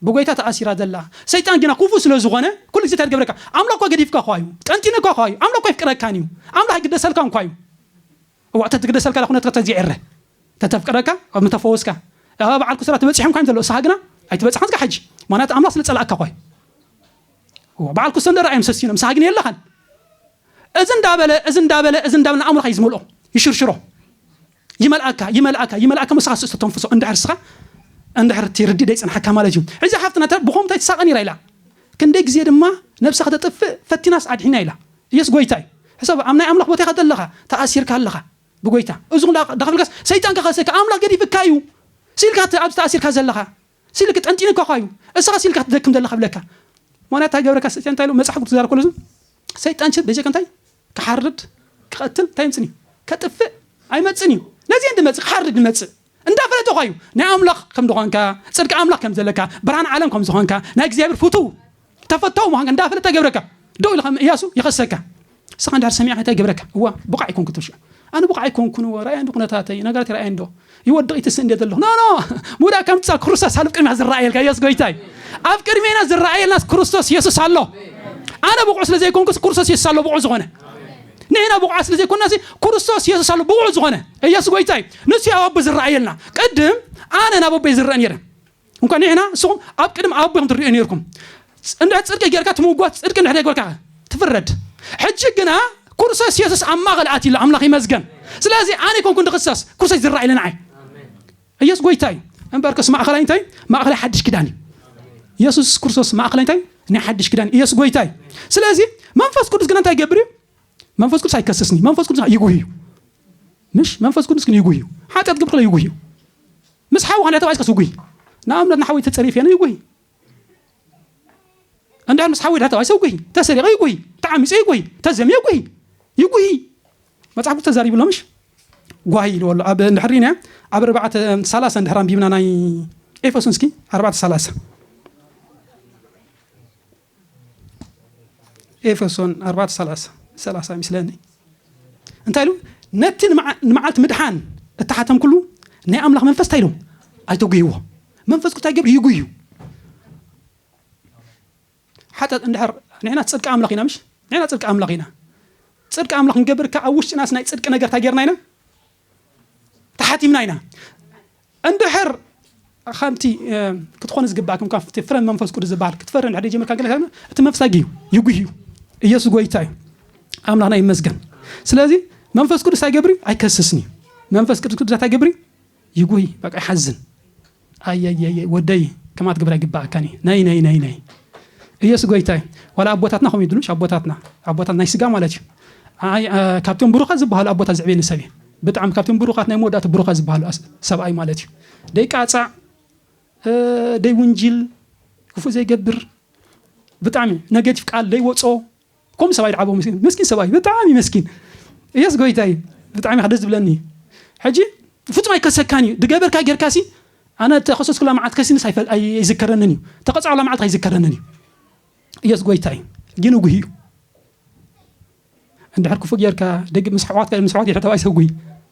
ብጎይታ ተኣሲራ ዘላ ሰይጣን ግና ኩፉእ ስለ ዝኮነ ኩሉ ግዜ እንታይ ትገብረካ ኣምላክ እኳ ገዲፍካ እኳ እዩ ጠንጢነካ እኳ እዩ ኣምላክ እኳ ኣይፍቅረካን እዩ ኣምላክ ኣይግደሰልካን እኳ እዩ እዋእ ተትግደሰልካ ዳኩነት ከተዝጊዕ እረ ተተፍቅረካ ኣብ ምተፈወስካ ኣብ በዓል ኩስራ ትበጽሖም እኳ ዘሎ እሳካ ግና ኣይትበጽሓን እስካ ሕጂ ምክንያቱ ኣምላክ ስለ ጸላእካ እኳ እዩ እዋ በዓል ኩሰ እንደ ራእዮም ሰሲኖም እሳካ ግን የለካን እዚ እንዳ በለ እዚ እንዳ በለ እዚ እንዳ በለ ንኣእምሮኻ እዩ ዝመልኦ ይሽርሽሮ ይመልኣካ ይመልኣካ ይመልኣካ እሞ ንስኻ ስእሱ ተንፍሶ እንድሕር ንስኻ እንድሕር እቲ ርድእ ደይጸንሓካ ማለት እዩ እዚ ሓፍትና ተ- ብኸምኡ እንታይ ትሳቐ ነይራ ኢላ ክንደይ ግዜ ድማ ነብሳ ከተጥፍእ ፈቲናስ ኣድሒና ኢላ ኢየሱስ ጎይታ እዩ ሕሰብ ኣብ ናይ ኣምላኽ ቦታ ኢኻ ዘለኻ ተኣሲርካ ኣለኻ ብጎይታ እዚ ኹላ ዳኸፍልካስ ሰይጣን ከኸሰካ ኣምላኽ ገዲፍካ እዩ ሲልካ እቲ ኣብዚ ተኣሲርካ ዘለኻ ሲልክ ጠንጢኑካ ኳዩ እስኻ ሲልካ ክትደክም ዘለኻ ብለካ ምክንያት ታይ ገብረካ ስጥያ እንታይ ኢሉ መጽሓፉ ክትዛረብ ከሎ ዝም ሰይጣን ሽር በጀካ እንታይ ክሓርድ ክቐትል እንታይ ይምጽን እዩ ከጥፍእ ኣይመጽን እዩ ነዚ እንዲ መጽእ ክሓርድ ይመጽእ እንዳፈለጠ ኳዩ ናይ ኣምላኽ ከም ዝኾንካ ጽድቂ ኣምላኽ ከም ዘለካ ብርሃን ዓለም ከም ዝኾንካ ናይ እግዚኣብሔር ፍቱው ተፈታዊ ምዃንካ እንዳፈለጠ ገብረካ ደው ኢልካ እም እያሱ ይኸሰካ ንስኻ እንድሕር ሰሚዕካ እንታይ ገብረካ እዋ ብቑዕ ኣይኮንኩ ትብል ሽዑ ኣነ ብቑዕ ኣይኮንኩን እዎ ርኣየንዶ ኩነታተይ ነገራት ይርኣየንዶ ይወድቕ ይትስእ እንደ ዘለኹ ኖ ኖ ምውዳእ ከም ትጻ ክርስቶስ ኣብ ቅድሚኻ ዝረኣየልካ እያሱ ጎይታ እዩ ኣብ ቅድሜና ዝረኣየልናስ ክርስቶስ የሱስ ኣሎ ኣነ ብቑዕ ስለ ዘይኮንኩስ ክርስቶስ የሱስ ኣሎ ብቑዕ ዝኾነ ንሕና ብቑዓት ስለ ዘይኮንና ሲ ክርስቶስ የሱስ ኣሎ ብቑዕ ዝኾነ ኢየሱስ ጎይታ እዩ ንሱ ኣብ ኣቦ ዝረኣየልና ቅድም ኣነ ናብ ኣቦይ ዝረአ ነይረ እንኳ ንሕና ንስኹም ኣብ ቅድሚ ኣቦ ኢኹም ትርእዩ ኔርኩም እንድሕር ጽድቂ ጌርካ ትምጎት ጽድቂ እንድሕር ዘይገበርካ ትፍረድ ሕጂ ግና ኩርሰስ የሱስ ኣብ ማእኸል ኣትዩ ኣሎ ኣምላኽ ይመስገን ስለዚ ኣነ ኣይኮንኩን ድኽሰስ ኩርሰስ ዝረኣ ኢለ ንዓይ ኢየሱስ ጎይታ እዩ እምበርከስ ማእኸላይ እንታይ ማእኸላይ ሓድሽ ኪዳን እዩ የሱስ ክርስቶስ ማእኸላይ እንታይ ናይ ሓድሽ ኪዳን ኢየሱስ ጎይታ እዩ ስለዚ መንፈስ ቅዱስ ግና እንታይ ይገብር እዩ መንፈስ ቅዱስ ኣይከስስኒ መንፈስ ቅዱስ ይጉህ እዩ ምሽ መንፈስ ቅዱስ ግን ይጉህ እዩ ሓጢኣት ግብር ይጉህ እዩ ምስ ሓውኻ እንድሕር ተባኢስካስ ውጉይ ንኣብነት ንሓወይ ተጸሪፌ እነ ይጉይ እንድሕር ምስ ሓወይ ድሕር ተባኢሰ ውጉይ ተሰሪቐ ይጉይ ተዓሚጸ ይጉይ ተዘምየ ይጉይ ይጉይ መጽሓፍ ቅዱስ ተዛሪቡ ኣሎ ምሽ ጓሂ ኢልዎ ኣሎ ኣብ እንድሕር ሪና ኣብ ኣርባዕተ ሰላሳ እንድሕር ኣንቢብና ናይ ኤፌሶን እስኪ ኣርባዕተ ሰላሳ ኤፌሶን ኣርባዕተ ሰላሳ ሰላሳ ይምስለኒ እንታይ ኢሉ ነቲ ንመዓ- ንመዓልቲ ምድሓን እተሓተምኩሉ ናይ ኣምላኽ መንፈስ እንታይ ኢሉ ኣይተጉህዎ መንፈስ ቅዱስ ኣይገብር ይጉዩ ሓጢኣት እንድሕር ንሕና ፅድቂ ኣምላኽ ኢና ምሽ ንሕና ፅድቂ ኣምላኽ ኢና ፅድቂ ኣምላኽ ክንገብር ከዓ ኣብ ውሽጥናስ ናይ ፅድቂ ነገር እንታይ ጌርና ኢና ተሓቲምና ኢና እንድሕር ከምቲ ክትኾኑ ዝግባእኩም ካብ ፍረ መንፈስ ቅዱስ ዝበሃል ክትፈሪ እንድሕር ጀመርካ ግን እቲ መፍሳጊ እዩ ይጉህ እዩ ኢየሱስ ጎይታ እዩ ኣምላኽና ይመስገን ስለዚ መንፈስ ቅዱስ ኣይገብሪ ኣይከስስን እዩ መንፈስ ቅዱስ ቅዱሳት ኣይገብሪ ይጉህ በቃ ይሓዝን ኣይይይይ ወደይ ከምኣ ትገብር ኣይግበኣካን እዩ ነይነይነይነይ እየሱ ጎይታ እዩ ዋላ ኣቦታትና ከምኡ ይብሉ ኣቦታትና ኣቦታት ናይ ስጋ ማለት እዩ ኣይ ካብቶም ብሩኻት ዝበሃሉ ኣቦታት ዝዕብየኒ ሰብ እዩ ብጣዕሚ ካብቶም ብሩኻት ናይ መወዳእቲ ብሩኻት ዝበሃሉ ሰብኣይ ማለት እዩ ደይ ቃፃዕ ደይ ውንጅል ክፉእ ዘይገብር ብጣዕሚ ነገቲቭ ቃል ደይ ወፆ ከምኡ ሰብኣይ ድሓቦ መሲሉ መስኪን ሰብኣይ ብጣዕሚ መስኪን እየስ ጎይታይ ብጣዕሚ ከ ደስ ዝብለኒ እዩ ሕጂ ፍጹም ኣይከሰካን እዩ ድገበርካ ጌርካ ሲ ኣነ ተኸሰስኩላ መዓልቲ ከሲንስ ኣይዝከረንን እዩ ተቐጻዑላ መዓልቲ ኣይዝከረንን እዩ እየስ ጎይታይ ግን ጉሂ እዩ እንድሕር ክፉእ ጌርካ ደግ ምስ ኣሕዋትካ ምስ ኣሕዋት ይሕተባይ ሰጉይ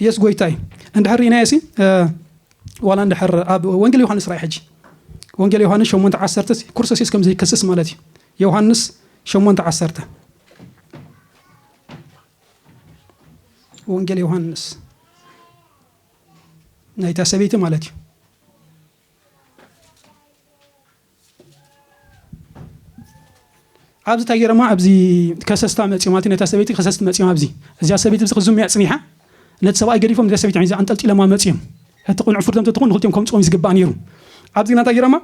የስ ጎይታ እዩ እንድሕር ርኢናዮ ሲ ዋላ እንድሕር ኣብ ወንጌል ዮሃንስ ራእይ ሕጂ ወንጌል ዮሃንስ 8 ዓሰርተ ኩርሰሲስ ከም ዘይከስስ ማለት እዩ ዮሃንስ 8 ዓሰርተ ወንጌል ዮሃንስ ናይታ ሰበይቲ ማለት እዩ ኣብዚ ታይ ገይሮማ ኣብዚ ከሰስታ መፂኦም ኣቲ ነታ ሰበይቲ ከሰስቲ መፂኦም ኣብዚ እዚኣ ሰበይቲ ብዚ ክዝሙ እያ ፅኒሓ ነቲ ሰብኣይ ገዲፎም ንዚኣ ሰበይቲ ሒዛ ኣንጠልጢሎማ መፂኦም እቲ ቅኑዕ ፍርዶም ተትኾን ንክልቲኦም ከምፅኦም እዩ ዝግባእ ነይሩ ኣብዚ ግና እንታይ ገይሮማ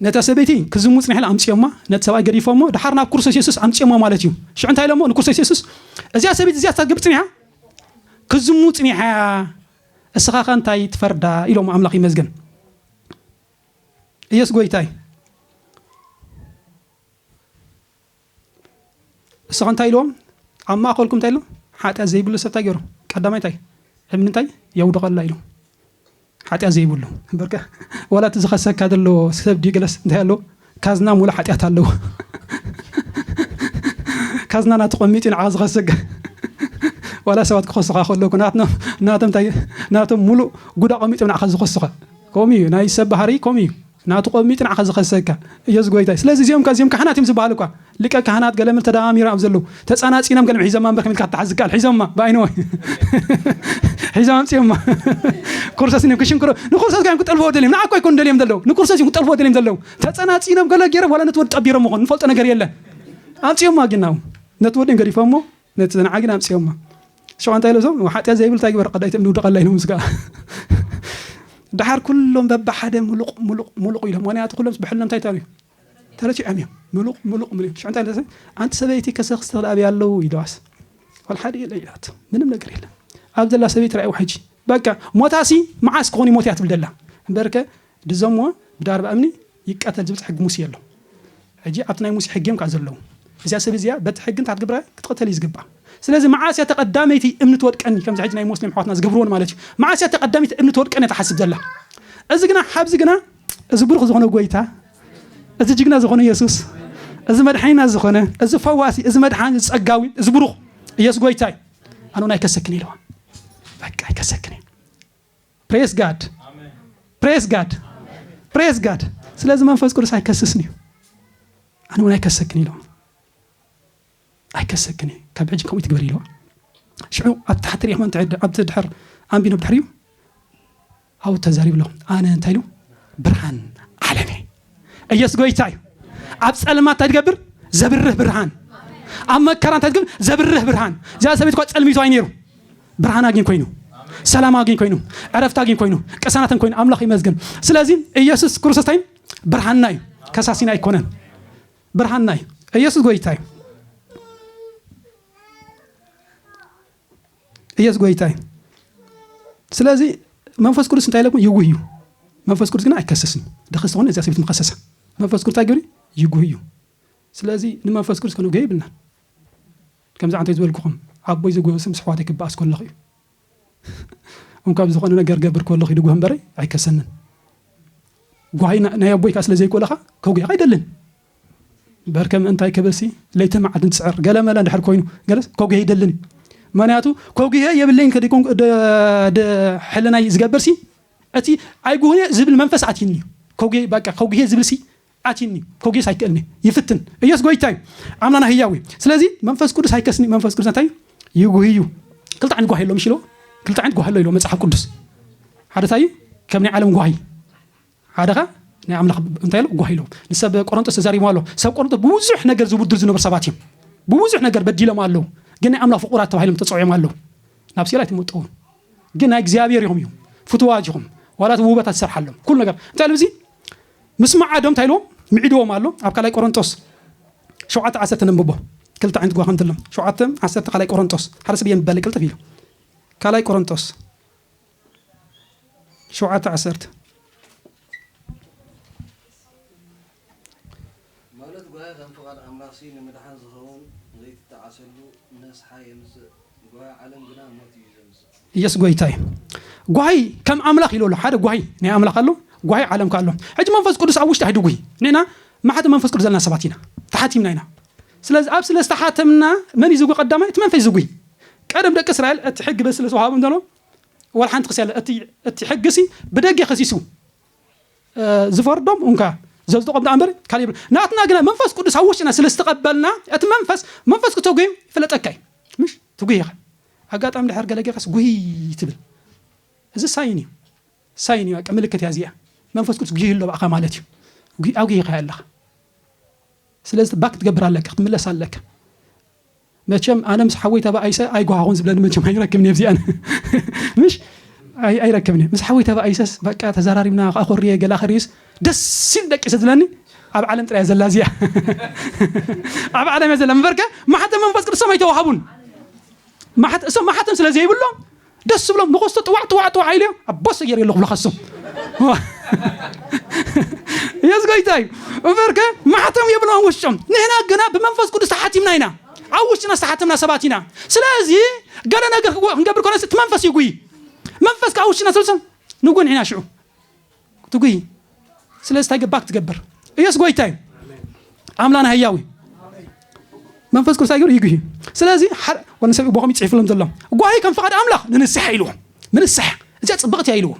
ነታ ሰበይቲ ክዝሙ ፅኒሕላ ኣምፅኦማ ነቲ ሰብኣይ ገዲፎሞ ድሓር ናብ ክርስቶስ የሱስ ኣምፅኦሞ ማለት እዩ ሽዑ እንታይ ኢሎሞ ንክርስቶስ የሱስ እዚኣ ሰበይቲ እዚኣ ሳትገብር ፅኒሓ ክዝሙ ፅኒሓ እስኻኸ እንታይ ትፈርዳ ኢሎሞ ኣምላኽ ይመስገን እየሱስ ጎይታ እዩ እሱ ከ እንታይ ኢልዎም ኣብ ማእኸልኩም እንታይ ኢሉ ሓጢኣት ዘይብሉ ሰብ እንታይ ገይሩ ቀዳማይ እንታይ እምኒ እንታይ የውድቐላ ኢሉ ሓጢኣት ዘይብሉ እምበርከ ዋላ እቲ ዝኸሰካ ዘሎ ሰብ ድዩ ገለስ እንታይ ኣለዎ ካዝና ሙሉእ ሓጥያት ኣለዎ ካዝና ናቱ ቀሚጡ ንዓኻ ዝኸሰካ ዋላ ሰባት ክኸሱኻ ከለዉ እኮ ናቶም ታይ ናቶም ሙሉእ ጉድ ኣቐሚጦም ንዓኻ ዝኸሱኻ ከምኡ እዩ ናይ ሰብ ባህሪ ከምኡ እዩ ናቱ ቀሚጡ ንዓኻ ዝኸሰካ ኢየሱስ ጎይታ እዩ ስለዚ እዚኦም እዚኦም ካሕናት እዮም ዝበሃሉ እኳ ሊቀ ካህናት ገለምር ተደማሚሩ ኣብ ዘለው ተጻናጺኖም ገልም ሒዞማ እምበር ከመይልካ ክትሓዝ ዝከኣል ሒዞማ ብኣይንወ ሒዞም ኣምጺኦማ ኩርሶስ ን ክሽንክሮ ንኩርሶስ ጋዮም ክጠልፍዎ ደልዮም ንዓኮ ኣይኮኑ ደልዮም ዘለው ንኩርሶስ እዮም ክጠልፍዎ ደልዮም ዘለው ተጸናጺኖም ገለ ገይሮም ዋላ ነቲ ወዲ ጠቢሮም ምኾኑ ንፈልጦ ነገር የለን ኣምጺኦማ ጊናው ነቲ ወዲ ገዲፎሞ ነቲ ዘንዓ ግን ኣምጺኦማ ሸዋ እንታይ ኢለ ዞም ሓጢያ ዘይብል እንታይ ግበር ቀዳይቲ እምኒ ውድቐላ ኢሎምስ ከዓ ድሓር ኩሎም በብሓደ ሙሉቕ ሙሉቕ ሙሉቕ ኢሎም ምክንያቱ ኩሎምስ ብሕልኖም እንታይ ተርእዩ ተረቲዖም እዮም ምሉቕ ምሉቕ ምሉ ሽዑ እንታይ ኢለ ኣንቲ ሰበይቲ ከሰክስ ትኽእል ኣብይ ኣለዉ ኢለዋስ ዋል ሓደ የለ ኢላቶ ምንም ነገር የለን ኣብ ዘላ ሰበይቲ ራእይዋ ሕጂ በቃ ሞታሲ መዓስ ክኾን ይሞት እያ ትብል ደላ እምበርከ ድዘምዎ ብዳርባ እምኒ ይቀተል ዝብል ሕጊ ሙሴ ኣሎ ሕጂ ኣብቲ ናይ ሙሴ ሕጊ እዮም ከዓ ዘለዉ እዚኣ ሰብ እዚኣ በቲ ሕጊ እንታይ ክትግብራ ክትቕተል እዩ ዝግባእ ስለዚ መዓስ እያ ተቐዳመይቲ እምኒ ትወድቀኒ ከምዚ ሕጂ ናይ ሞስሊም ኣሕዋትና ዝገብርዎን ማለት እዩ መዓስ እያ ተቐዳመይቲ እምኒ ትወድቀኒ እያ ትሓስብ ዘላ እዚ ግና ሓብዚ ግና እዚ ብሩኽ ዝኾነ ጎይታ፣ እዚ ጅግና ዝኾነ የሱስ፣ እዚ መድሓኒና ዝኾነ፣ እዚ ፈዋሲ፣ እዚ መድሓኒ፣ እዚ ጸጋዊ፣ እዚ ብሩኽ ኢየሱስ ጎይታ እዩ። ኣነ እውን ኣይከሰክን ኢለዋ። በቃ ኣይከሰክን እዩ። ፕሬስ ጋድ ፕሬስ ጋድ ፕሬስ ጋድ። ስለዚ መንፈስ ቅዱስ ኣይከስስን እዩ። ኣነ እውን ኣይከሰክን ኢለዋ። ኣይከሰክን እየ ካብ ሕጂ ከምኡ ኣይትግበሪ ኢልዋ ሽዑ ኣብ ታሕቲ ሪኢክሞ እንተድሕር ኣብቲ ድሕር ኣንቢኖ ብድሕር እዩ ኣብኡ ተዛሪቡ ኣሎ ኣነ እንታይ ኢሉ ብርሃን ዓለም እየ ኢየሱስ ጎይታ እዩ ኣብ ጸልማት እንታይ ትገብር ዘብርህ ብርሃን ኣብ መከራ እንታይ ትገብር ዘብርህ ብርሃን እዚኣ ሰበይት እኳ ጸልሚቱ ኣይ ነይሩ ብርሃን ኣግኝ ኮይኑ ሰላም ኣግኝ ኮይኑ ዕረፍቲ ኣግኝ ኮይኑ ቅሳናትን ኮይኑ ኣምላኽ ይመስገን ስለዚ ኢየሱስ ክርስቶስ እንታይ እዩ? ብርሃንና እዩ ከሳሲና ኣይኮነን ብርሃንና እዩ ኢየሱስ ጎይታ እዩ ኢየሱስ ጎይታ እዩ ስለዚ መንፈስ ቅዱስ እንታይ ኢለኩም ይጉህ እዩ መንፈስ ቅዱስ ግን ኣይከሰስን ደኸስ ዝኾነ እዚያ ሰብት ምከሰሰ መንፈስ ቅዱስ እንታይ ግብሪ ይጉህ እዩ ስለዚ ንመንፈስ ቅዱስ ከነጉህ ይብልና ከምዚ ዓንተ ዝበልኩኹም ዓቦይ ዝጎበስም ስሕዋት ይክበኣስ ከለኹ እዩ እንኳብ ዝኾነ ነገር ገብር ኮሎ ኪድጎህ እምበረይ ኣይከሰንን ጓሂ ናይ ኣቦይ ካስለ ዘይኮለኻ ከጉሂኻ ኣይደልን በርከ ምእንታይ ክብልሲ ለይትን መዓልትን ትስዕር ገለ መለ እንድሕር ኮይኑ ገለስ ከጉሂ ኣይደልን ምክንያቱ ከጉሂ የብለይን ከዲኩም ሕልናይ ዝገብርሲ እቲ ኣይጉህየ ዝብል መንፈስ ኣትይኒ ከጉሂ በቃ ከጉሂ ዝብልሲ ኣቲኒ ኮጌስ ኣይክእልኒ ይፍትን እየሱስ ጎይታ እዩ ኣምላና ህያው እዩ ስለዚ መንፈስ ቅዱስ ኣይከስኒ መንፈስ ቅዱስ እንታይ ይጉህ እዩ ክልተ ዓይነት ጓሂ ኣሎ ምሽ ኢልዎ ክልተ ዓይነት ጓሂ ኣሎ ኢልዎ መጽሓፍ ቅዱስ ሓደ እንታይ እዩ ከም ናይ ዓለም ጓሂ ሓደ ከ ናይ ኣምላኽ እንታይ ኣሎ ጓሂ ኣለዎ ንሰብ ቆሮንጦስ ተዛሪቦ ኣሎ ሰብ ቆሮንጦስ ብብዙሕ ነገር ዝውድር ዝነበሩ ሰባት እዮም ብብዙሕ ነገር በዲሎም ኣለዉ ግን ናይ ኣምላኽ ፍቁራት ተባሂሎም ተፀውዖም ኣለዉ ናብ ሲኦል ኣይትመጠውን ግን ናይ እግዚኣብሔር ኢኹም እዮም ፍትዋት ኢኹም ዋላ እቲ ውበታት ዝሰርሓሎም ኩሉ ነገር እንታይ ኢሉ እዚ ምስ መዓዶም እንታይ ኢልዎም ምዒድዎም ኣሎ ኣብ ካልኣይ ቆሮንጦስ ሸውዓተ ዓሰርተ ነንብቦ ክልተ ዓይነት ጓኸምቲ ኣሎ ሸውዓተ ዓሰርተ ካልኣይ ቆሮንጦስ ሓደ ሰብ የንብበለይ ቅልጥፍ ኢሉ ካልኣይ ቆሮንጦስ ሸውዓተ ዓሰርተ ማለት ጓሂ ከም ፍቓድ ኣምላኽሲ ንምድሓን ዝኸውን ዘይትጠዓሰሉ ነስሓ የምጽእ፣ ጓሂ ዓለም ግና ሞት እዩ ዘምጽእ። ኢየሱስ ጎይታ እዩ። ጓሂ ከም ኣምላኽ ኢሉ ኣሎ። ሓደ ጓሂ ናይ ኣምላኽ ኣሎ፣ ጓሂ ዓለም ከኣ ኣሎ። ሕጂ መንፈስ ቅዱስ ኣብ ውሽጢ ኣይትጉሂ። ንሕና ማሕተም መንፈስ ቅዱስ ዘለና ሰባት ኢና። ተሓቲምና ኢና። ስለዚ ኣብ ስለ ዝተሓተምና መን እዩ ዝጉሂ ቀዳማይ እቲ መንፈስ እዩ ዝጉሂ። ቀደም ደቂ እስራኤል እቲ ሕጊ በዚ ስለ ዝተዋሃቦም ዘሎ ዋላ ሓንቲ ክሲ ኣለ እቲ እቲ ሕጊሲ ብደጌ ከሲሱ። ዝፈርዶም ኡንካ ዘዝጥቆም ደኣ እምበር ካልእ የብሉን ናትና ግና መንፈስ ቅዱስ ኣብ ውሽጥና ስለ ዝተቀበልና እቲ መንፈስ መንፈስ ክተጉህዩ ይፍለጠካ እዩ ምሽ ትጉህ ኢኻ ኣጋጣሚ ድሕር ገለ ጌርካስ ጉህይ ትብል እዚ ሳይን እዩ ሳይን እዩ በቃ ምልክት እያ እዚኣ መንፈስ ቅዱስ ጉህዩ ኣሎ ብኣኻ ማለት እዩ ኣጉሂኻ ኣለኻ ስለዚ ባክ ክትገብር ኣለካ ክትምለስ ኣለካ መቸም ኣነ ምስ ሓወይ ተባኢሰ ኣይጎሃኹን ዝብለኒ መቸም ኣይረክብን እየ ብዚኣን ምሽ ኣይረክብን እየ ምስ ሓወይ ተባኢሰስ በቃ ተዛራሪብና ኣኾርየ ገላ ክርዩስ ደስ ኢሉ ደቂሰ ዝብለኒ ኣብ ዓለም ጥራይ ዘላ እዚኣ ኣብ ዓለም እያ ዘላ ምበርከ ማሕተም መንፈስ ቅዱሶም ኣይተዋሃቡን እሶም ማሕተም ስለ ዘይብሎም ደስ ዝብሎም ንኸስቶ ጥዋዕ ጥዋዕ ጥዋዕ ኢሉ እዮም ኣቦ ሰየር የለ ክብሉ ከሱ የስ ጎይታ እዩ እምበር ከ ማሕተም የብሎም ውሽጦም ንሕና ግና ብመንፈስ ቅዱስ ተሓቲምና ኢና ኣብ ውሽጥና ዝተሓተምና ሰባት ኢና ስለዚ ገለ ነገር ክንገብር ኮነ እቲ መንፈስ ይጉይ መንፈስ ከዓ ውሽጥና ስለሰ ንጉንዒና ሽዑ ትጉይ ስለዚ ታይ ገባክ ትገብር እየሱስ ጎይታ እዩ ኣምላና ህያው እዩ መንፈስ ቅዱስ ኣይገሩ ይጉሂ ስለዚ ወነ ሰብ ቦኸም ይፅሒፍሎም ዘሎ ጓሂ ከም ፍቓድ ኣምላኽ ንንስሓ ኢልዎ ምንስሓ እዚኣ ፅብቕቲ እያ ኢልዎ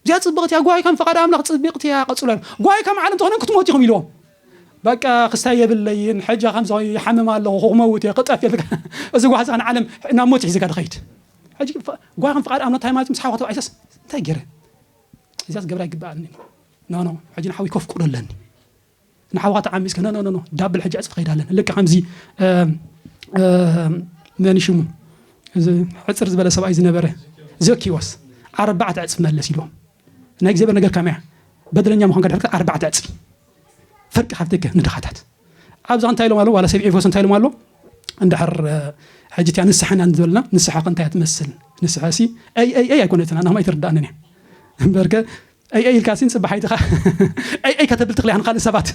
እዚኣ ፅብቕቲ እያ ጓሂ ከም ፍቓድ ኣምላኽ ፅብቕቲ እያ ቀፅሎ ጓሂ ከም ዓለም ተኾነ ክትሞት ኢኹም ኢልዎም በቃ ክስታይ የብለይን ሕጃ ከምዚ ይሓምም ኣለኹ ክመውት እየ ክጠፍ የልካ እዚ ጓህዛ ንዓለም ናብ ሞት ሒዝካ ድኸይድ ሕጂ ጓሂ ከም ፍቓድ ኣምላኽ እንታይ ማለት ምስ ሓዋተብ ኣይሰስ እንታይ ገይረ እዚኣስ ክገብራ ኣይግበኣንን እዩ ኖኖ ሕጂ ንሓውይ ከፍቅዶ ኣለኒ ንሓውካ ተዓሚጽከ ኖኖኖ ዳብል ሕጂ ዕጽፊ ከይዳ ኣለኒ ልክዕ ከምዚ መን ሽሙ እዚ ሕፅር ዝበለ ሰብኣይ ዝነበረ ዘኪዎስ ኣርባዕተ ዕፅፊ መለስ ኢልዎም ናይ እግዚኣብሔር ነገር ከመያ በደለኛ ምዃን ከድሕርካ ኣርባዕተ ዕፅፊ ፈርቂ ሃብትከ ንድኻታት ኣብዛ እንታይ ኢሎም ኣሎ ዋላ ሰብዒ ፎስ እንታይ ኢሎም ኣሎ እንድሕር ሕጂ እቲኣ ንስሓ ኢና ዝበልና ንስሓ ከ እንታይ ትመስል ንስሓ ሲ ኣይ ኣይ ኣይ ኣይኮነትን ኣናማ ኣይተረዳእንን እያ እምበርከ ኣይ ኣይ ኢልካ ሲ ንፅባሓይትኻ ኣይ ኣይ ከተብል ትኽልያ ንካልእ ሰባት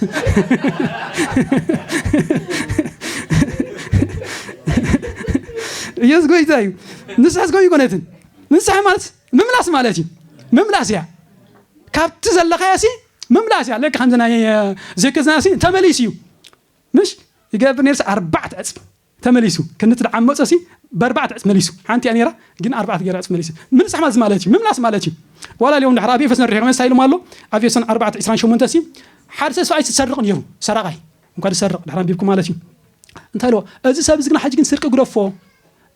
ኢየሱስ ጎይታ እዩ ንስሓ ዝኮ ይኮነትን ንስሓ ማለት ምምላስ ማለት እዩ ምምላስ እያ ካብቲ ዘለኻያ ሲ ምምላስ እያ ልክ ከምዚ ናይ ዜክዝና ሲ ተመሊሱ እዩ ምሽ ይገብር ነርሲ ኣርባዕት ዕጽፍ ተመሊሱ ክንት ድዓመጾ ሲ በርባዕት ዕጽፍ መሊሱ ሓንቲ እያ ነራ ግን ኣርባዕት ገይረ ዕጽፍ መሊሱ ምንሳሕ ማለት ማለት እዩ ምምላስ ማለት እዩ ዋላ ሊኦም ድሕር ኣብ ኤፌሶን ርሒቑ መሳ ኢሉም ኣሎ ኣብ ኤፌሶን ኣርባዕት ዕስራን ሸሞንተ ሲ ሓደ ሰብ ሰብኣይ ዝሰርቕ ነይሩ ሰራቓይ እንኳ ዝሰርቕ ድሕር ኣንቢብኩም ማለት እዩ እንታይ ኢልዎ እዚ ሰብ እዚ ግና ሕጂ ግን ስርቂ ግደፎ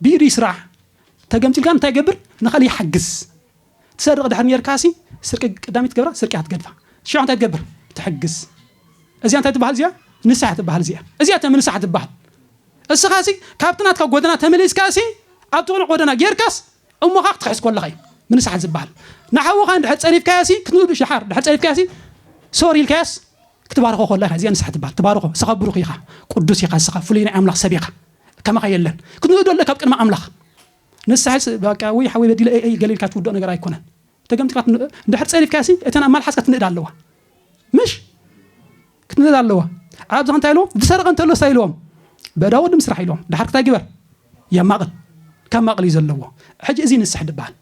ብኢዱ ይስራሕ ተገምጢልካ እንታይ ይገብር ንኻልእ ይሓግዝ ትሰርቅ ድሕር ኔርካሲ ስርቂ ቀዳመይቲ ትገብራ ስርቂ እያ ትገድፋ ሽዑ እንታይ ትገብር ትሕግዝ እዚኣ እንታይ ትባሃል እዚኣ ንስሓ እያ ትባሃል እዚኣ እዚኣ እተ ምንሳሓ ትባሃል እስኻሲ ካብቲ ናትካ ጎደና ተመሊስካሲ ኣብቲ ቅኑዕ ጎደና ጌርካስ እሞኻ ክትክሕስ ኮለኻ እዩ ምንሳሓ ዝባሃል ንሓውኻ እንድሕር ጸሪፍካዮሲ ክትብሉ ሽሓር ድሕር ጸሪፍካዮሲ ሶሪ ኢልካዮስ ክትባርኾ ኮላ ኢኻ እዚኣ ንስሓ ትባሃል ትባርኾ እስኻ ብሩኽ ኢኻ ቅዱስ ኢኻ እስኻ ፍሉይ ናይ ኣምላኽ ሰብ ኢኻ ከማኻ የለን ክትንእዶ ኣለካ ኣብ ቅድሚ ኣምላኽ ንስሐስ ባቃ ውይ ሓወይ በዲለ እይ ገለ ኢልካ ትውድኦ ነገር ኣይኮነን ተገምጢልካ ትን እንድሕር ጸሪፍካያሲ እተን ኣብ ማልሓስካ ትንእድ ኣለዋ ምሽ ክትንእድ ኣለዋ ኣብዛ እንታይ ኢልዎም ዝሰረቐ እንተሎ እንታይ ኢልዎም በዳ ወዲ ምስራሕ ኢልዎም ድሓር ክታይ ግበር የማቕል ካብ ማቕል እዩ ዘለዎ ሕጂ እዚ ንስሕ ድበሃል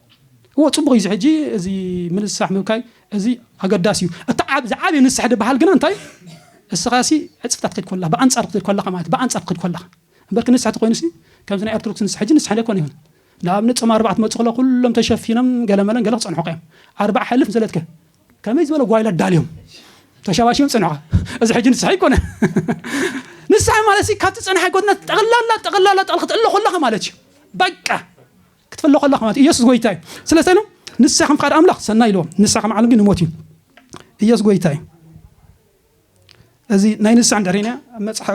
እዎ ጽቡቕ እዩ ሕጂ እዚ ምንስራሕ ምብካይ እዚ ኣገዳሲ እዩ እቲ ዓብ ዝዓበየ ንስሕ ድበሃል ግና እንታይ እዩ እስኻሲ ዕጽፍታት ክትከድ ኮላ ብኣንጻር ክትከድ ኮላኻ ማለት ብኣንጻር ክትከድ ኮላኻ እምበር ክንስሐ ተኾይኑሲ ከምዚ ናይ ኣርቶዶክስ ንስሐ ሕጂ ንስሐ ኣይኮን ይኹን ንኣብነት ጾም ኣርባዕ ትመጽእ ከሎ ኩሎም ተሸፊኖም ገለመለን ገለ ክጸንሑካ እዮም ኣርባዕ ሕልፍ ዘለትከ ከመይ ዝበለ ጓይላ ኣዳልዮም ተሸባሽዮም ጽንሑካ እዚ ሕጂ ንስሐ ኣይኮነ ንስሐ ማለት ካብቲ ጸንሓይ ጎድነት ጠቕላላ ጠቕላላ ጠቕል ክትእለ ኮላኻ ማለት እዩ በቃ ክትፍለ ኮላኻ ማለት ኢየሱስ ጎይታ እዩ ስለዚ ኢሎም ንስሐ ከም ፍቃድ ኣምላኽ ሰናይ ኢልዎም ንስሐ ከም ዓለም ግን ንሞት እዩ ኢየሱስ ጎይታ እዩ እዚ ናይ ንስዕ እንተሪእናያ ኣብ መጽሓ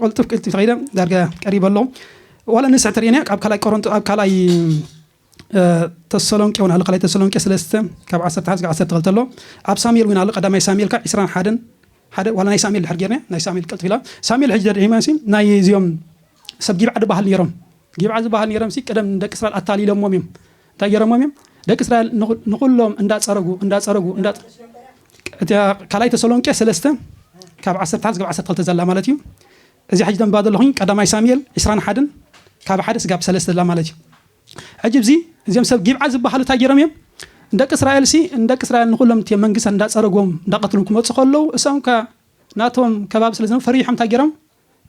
ቅልጥፍ ቅልጥፍ ተኸይደ ዳርጋ ቀሪበ ኣሎ ዋላ ንስዕ ተሪእናያ ካብ ካልኣይ ቆሮንቶ ኣብ ካልኣይ ተሰሎንቄ እውን ኣሎ ካልኣይ ተሰሎንቄ ስለስተ ካብ ዓሰርተ ሓደ ዓሰርተ ክልተ ኣሎ ኣብ ሳሙኤል እውን ኣሎ ቀዳማይ ሳሙኤል ካብ ዕስራን ሓደን ሓደ ዋላ ናይ ሳሙኤል ድሕር ጌርና ናይ ሳሙኤል ቅልጥፍ ኢላ ሳሙኤል ሕጂ ደድዒማ ሲ ናይ እዚኦም ሰብ ጊብዓ ድበሃል ነይሮም ጊብዓ ዝበሃል ነይሮም ሲ ቅደም ደቂ እስራኤል ኣታሊሎሞም እዮም እንታይ ገረሞም እዮም ደቂ እስራኤል ንኹሎም እንዳፀረጉ እንዳፀረጉ ካልኣይ ተሰሎንቄ ሰለስተ ካብ ዓሰርተ ሓደ ስጋብ ዓሰርተ ክልተ ዘላ ማለት እዩ እዚ ሕጂ ተንባ ዘለኹኝ ቀዳማይ ሳሙኤል ዕስራን ሓደን ካብ ሓደ ስጋብ ሰለስተ ዘላ ማለት እዩ ሕጂ እዚ እዚኦም ሰብ ጊብዓ ዝበሃሉ እንታይ ገይሮም እዮም ንደቂ እስራኤል ሲ ንደቂ እስራኤል ንኩሎም እቲ መንግስታት እንዳፀረጎም እንዳቀትሎም ክመፁ ከለዉ እሶም ከ ናቶም ከባቢ ስለ ዝነበሩ ፈሪሖም እንታይ ገይሮም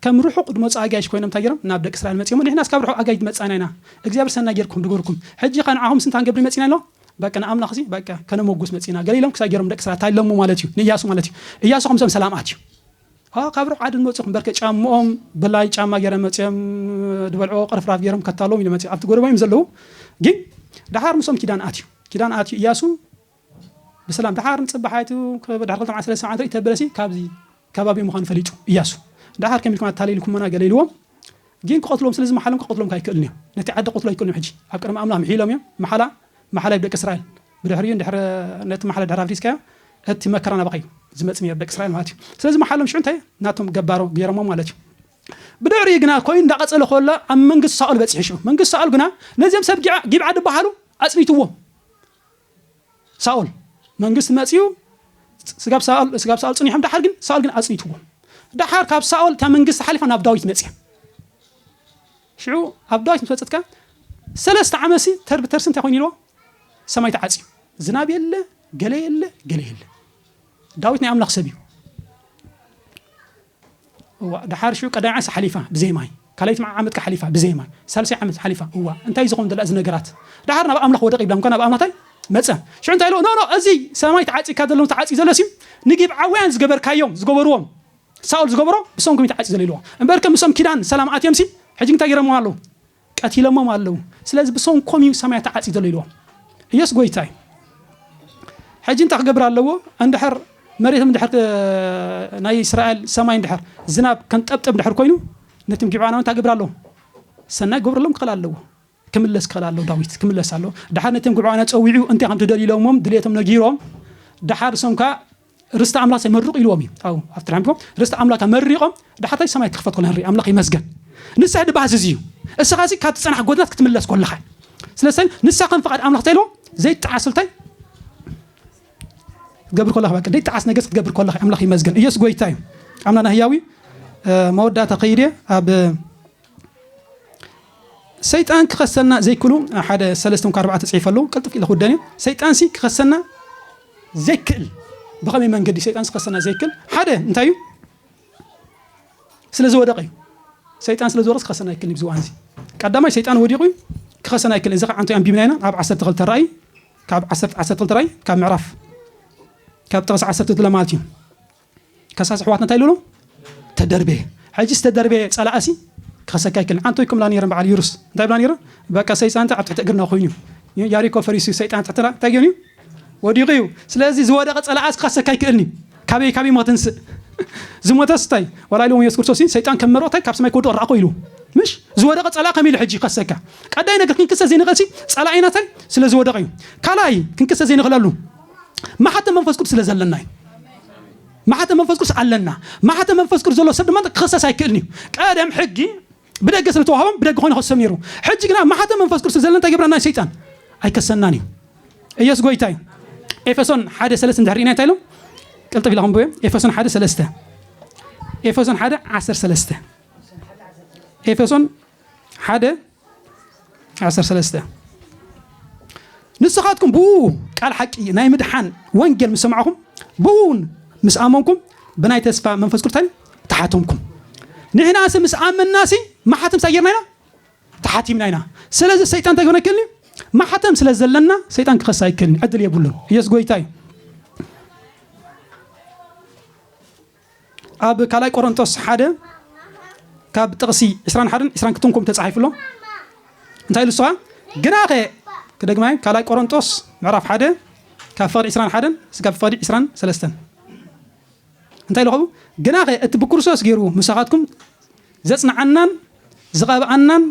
ከም ርሑቅ ድመጹ ኣጋይሽ ኮይኖም እንታይ ጌሮም ናብ ደቂ እስራኤል መጺኦሞ ንሕናስ ካብ ርሑቅ ኣጋይሽ ድመጻና ኢና እግዚኣብሔር ሰናይ ጌርኩም ድገርኩም ሕጂከ ንዓኹምስ እንታይ ክንገብር መጺና ኢሎም በቃ ንኣምላኽሲ በቃ ከነሞጉስ መጺና ገለ ኢሎም ክሳይ ጌሮም ንደቂ እስራኤል እንታይ ኢሎሞ ማለት እዩ ንእያሱ ማለት እዩ እያሱ ከምሶም ሰላም ኣትዩ ኣዋ ካብ ርሑቅ ዓዲ ድመጹ ኢኹም በርከ ጫምኦም ብላይ ጫማ ጌሮም መጺኦም ድበልዕዎ ቅርፍራፍ ጌሮም ከታሎም ኢሎም መጺኦም ኣብቲ ጎደቦም እዮም ዘለዉ ግን ደሓር ምሶም ኪዳን ኣትዩ ኪዳን ኣትዩ እያሱ ብሰላም ደሓር ንጽባሕ ኣቱ ድሕሪ ክልተ መዓልቲ ሰለስተ መዓልቲ ሪኢቶ በለሲ ካብዚ ከባቢ ምዃኑ ፈሊጡ እያሱ ደሓር ከመይ ኢልኩም ኣታሊልኩሙና ገለ ኢልዎም ግን ክቐትልዎም ስለ ዝመሓሎም ክቐትልዎም ከኣ ኣይክእልን እዮ ነቲ ዓዲ ክቐትሉ ኣይክእሉን ሕጂ ኣብ ቅድሚ ኣምላኽ ምሒሎም እዮም መሓላ መሓላይ ብደቂ እስራኤል ብድሕሪኡ ንድሕሪ ነቲ መሓላ ድሕሪ ኣፍሪስካዮ እቲ መከራ ናባኻ እዩ ዝመጽእ ነይሩ ደቂ እስራኤል ማለት እዩ ስለዚ መሓሎም ሽዑ እንታይ ናቶም ገባሮ ገይሮሞ ማለት እዩ ብድሕሪ ግና ኮይኑ እንዳቐጸለ ከሎ ኣብ መንግስቲ ሳኦል በጺሑ ሽዑ መንግስቲ ሳኦል ግና ነዚኦም ሰብ ጊብዓ ድበሃሉ ኣጽኒትዎም ሳኦል መንግስቲ መጺኡ ስጋብ ሳኦል ስጋብ ሳኦል ጽኒሖም ደሓር ግን ሳኦል ግን ኣጽኒትዎም ደሓር ካብ ሳኦል እታ መንግስቲ ሓሊፋ ናብ ዳዊት መጽያ ሽዑ ኣብ ዳዊት ምስ በጽት ከኣ ሰለስተ ዓመሲ ተር ብተርሲ እንታይ ኮይኑ ኢልዎ ሰማይ ተዓጽዩ ዝናብ የለ ገለ የለ ገለ የለ ዳዊት ናይ ኣምላኽ ሰብ እዩ። እዋእ ደሓር ሽዑ ቀዳይ ዓንስ ሓሊፋ ብዘይ ማይ ካልኣይቲ መዓ ዓመት ሓሊፋ ብዘይ ማይ ሳልሰይ ዓመት ሓሊፋ እዋእ እንታይ ዝኾን ዘላ እዚ ነገራት ደሓር ናብ ኣምላኽ ወደቕ ይብላ እንኳን ናብ ኣምላታይ መፀ ሽዑ እንታይ ኢሎ ኖ ኖ እዚ ሰማይ ተዓፂካ ዘሎ ተዓፂ ዘሎ ሲም ንጊብዓውያን ዝገበርካዮም ዝገበርዎም ሳኦል ዝገበሮ ብሰንኩም ተዓፂ ዘሎ ኢልዎ እምበርከ ምሶም ኪዳን ሰላም ኣትዮም ሲ ሕጂ እንታይ ገይሮምዎ ኣለዉ ቀቲሎሞም ኣለዉ ስለዚ ብሰንኮም እዩ ሰማይ ተዓጽዩ ዘሎ ኢልዎም እየሱስ ጎይታ እዩ ሕጂ እንታይ ክገብር ኣለዎ እንድሕር መሬቶም እንድሕር ናይ እስራኤል ሰማይ እንድሕር ዝናብ ከንጠብጠብ እንድሕር ኮይኑ ነቶም ጊብዓናዊ እንታይ ክገብር ኣለዎ ሰናይ ክገብረሎም ክኽእል ኣለዎ ክምለስ ክኽእል ኣለዎ ዳዊት ክምለስ ኣለዎ ድሓር ነቶም ግብዓውያን ጸዊዑ እንታይ ከም ትደልዩ ኢሎሞም ድሌቶም ነጊሮም ድሓር እሶም ከዓ ርስቲ ኣምላክ ኣይመርቁ ኢልዎም እዩ ኣብኡ ኣብቲ ናይ ኣምልኮ ርስቲ ኣምላክ ኣመሪቆም ዳሓታይ ሰማይ ክክፈት ኮሎ ንርኢ ኣምላክ ይመስገን ንስሕ ድባሃስ እዚ እዩ እስኻ እዚ ካብቲ ጸናሕ ጎድናት ክትምለስ ኮለኻ ስለሰይ ንሳ ከም ፍቃድ ኣምላክ እንታይ ኢልዎም ዘይጣዓስ እንታይ ገብር ኮለኻ በቃ ዘይጣዓስ ነገስ ክትገብር ኮለኻ ኣምላክ ይመስገን ኢየሱስ ጎይታ እዩ ኣምላና ህያዊ መወዳእታ ከይደ ኣብ ሰይጣን ክኸሰና ዘይክሉ ሓደ ሰለስተ እኳ ኣርባዕተ ፅሒፈ ኣለዉ ቅልጥፍ ኢለ ክውደን እዩ ሰይጣን ሲ ክኸሰና ዘይክእል ብኸመይ መንገዲ ሰይጣን ዝኸሰና ዘይክል ሓደ እንታይ እዩ ስለ ዝወደቀ እዩ ሰይጣን ስለ ዝወደቀ ክኸሰና ኣይክልን እዩ ዝዋን እዚ ቀዳማይ ሰይጣን ወዲቁ እዩ ክኸሰና ኣይክልን እዚ ከዓ እንታይ ኣንቢብና ኢና ኣብ ዓሰርተ ክልተ ራእይ ካብ ዓሰርተ ክልተ ራእይ ካብ ምዕራፍ ካብ ጥቕሲ ዓሰርተ ክልተ ማለት እዩ ከሳስ ኣሕዋትና እንታይ ኢሉ ተደርበየ ሕጂ ዝተደርበየ ጸላእሲ ክኸሰካ ይክል ሓንቲ ወይ ክምላ ነይረን በዓል ይሩስ እንታይ ብላ ነይረን በቃ ሰይጣን እንታይ ኣብ ትሕቲ እግርና ኮይኑ እዩ ያሪኮ ፈሪሱ ሰይጣን ትሕትና እንታይ ገይሩ እዩ ወዲቑ እዩ ስለዚ ዝወደቐ ጸላእሲ ክኸሰካ ይክእልኒ ካበይ ካበይ ሞ ትንስእ ዝሞተስ እንታይ ዋላ ኢሉ የሱስ ክርስቶስ ሰይጣን ከም መርኦ እንታይ ካብ ሰማይ ክወድቕ ረኣኾ ኢሉ ምሽ ዝወደቐ ጸላእ ከም ኢሉ ሕጂ ይኸሰካ ቀዳይ ነገር ክንክሰ ዘይንኽእልሲ ጸላኢና እንታይ ስለ ዝወደቐ እዩ ካልኣይ ክንክሰ ዘይንኽእለሉ ማሓተም መንፈስ ቅዱስ ስለ ዘለና እዩ ማሕተም መንፈስ ቅዱስ ኣለና። ማሕተም መንፈስ ቅዱስ ዘሎ ሰብ ድማ ክኽሰስ ኣይክእልን እዩ። ቀደም ሕጊ ብደገ ስለ ዝተዋህቦም ብደገ ኮይኑ ክሰም ነይሩ። ሕጂ ግና ማሕተም መንፈስ ቅዱስ ዘለና እንታይ ገብረና ሰይጣን ኣይከሰናን እዩ። ኢየሱስ ጎይታ እዩ። ኤፌሶን ሓደ ሰለስተ እንድሕር ኢና እንታይ ኢሎም ቅልጥፍ ኢላ ክንብዮ ኤፌሶን ሓደ ሰለስተ ኤፌሶን ሓደ ዓሰርተ ሰለስተ ኤፌሶን ሓደ ዓሰርተ ሰለስተ ንስኻትኩም ብኡ ቃል ሓቂ ናይ ምድሓን ወንጌል ምስ ሰማዕኹም ብኡውን ምስ ኣመንኩም ብናይ ተስፋ መንፈስ ቅዱስ እንታይ ተሓተምኩም ንሕናሲ ምስ ኣመንናሲ ማሓተም እንታይ ጌርና ኢና ተሓቲምና ኢና ስለዚ ሰይጣን እንታይ ክኾነ ይክእል እዩ ማሓተም ስለ ዘለና ሰይጣን ክኸሳ ኣይክእልን ዕድል የብሉን ኢየሱስ ጎይታ እዩ ኣብ ካልኣይ ቆሮንቶስ ሓደ ካብ ጥቕሲ ዕስራን ሓደን ዕስራን ክትንኩም ተጻሒፉ ኣሎ እንታይ ኢሉ ንስኻ ግናኸ ክደግማይ ካልኣይ ቆሮንቶስ ምዕራፍ ሓደ ካብ ፍቕዲ ዕስራን ሓደን ስጋብ ፍቕዲ ዕስራን ሰለስተን እንታይ ኢሉ ኸቡ ግናኸ እቲ ብክርስቶስ ገይሩ ምሳኻትኩም ዘጽንዓናን ዝቐብኣናን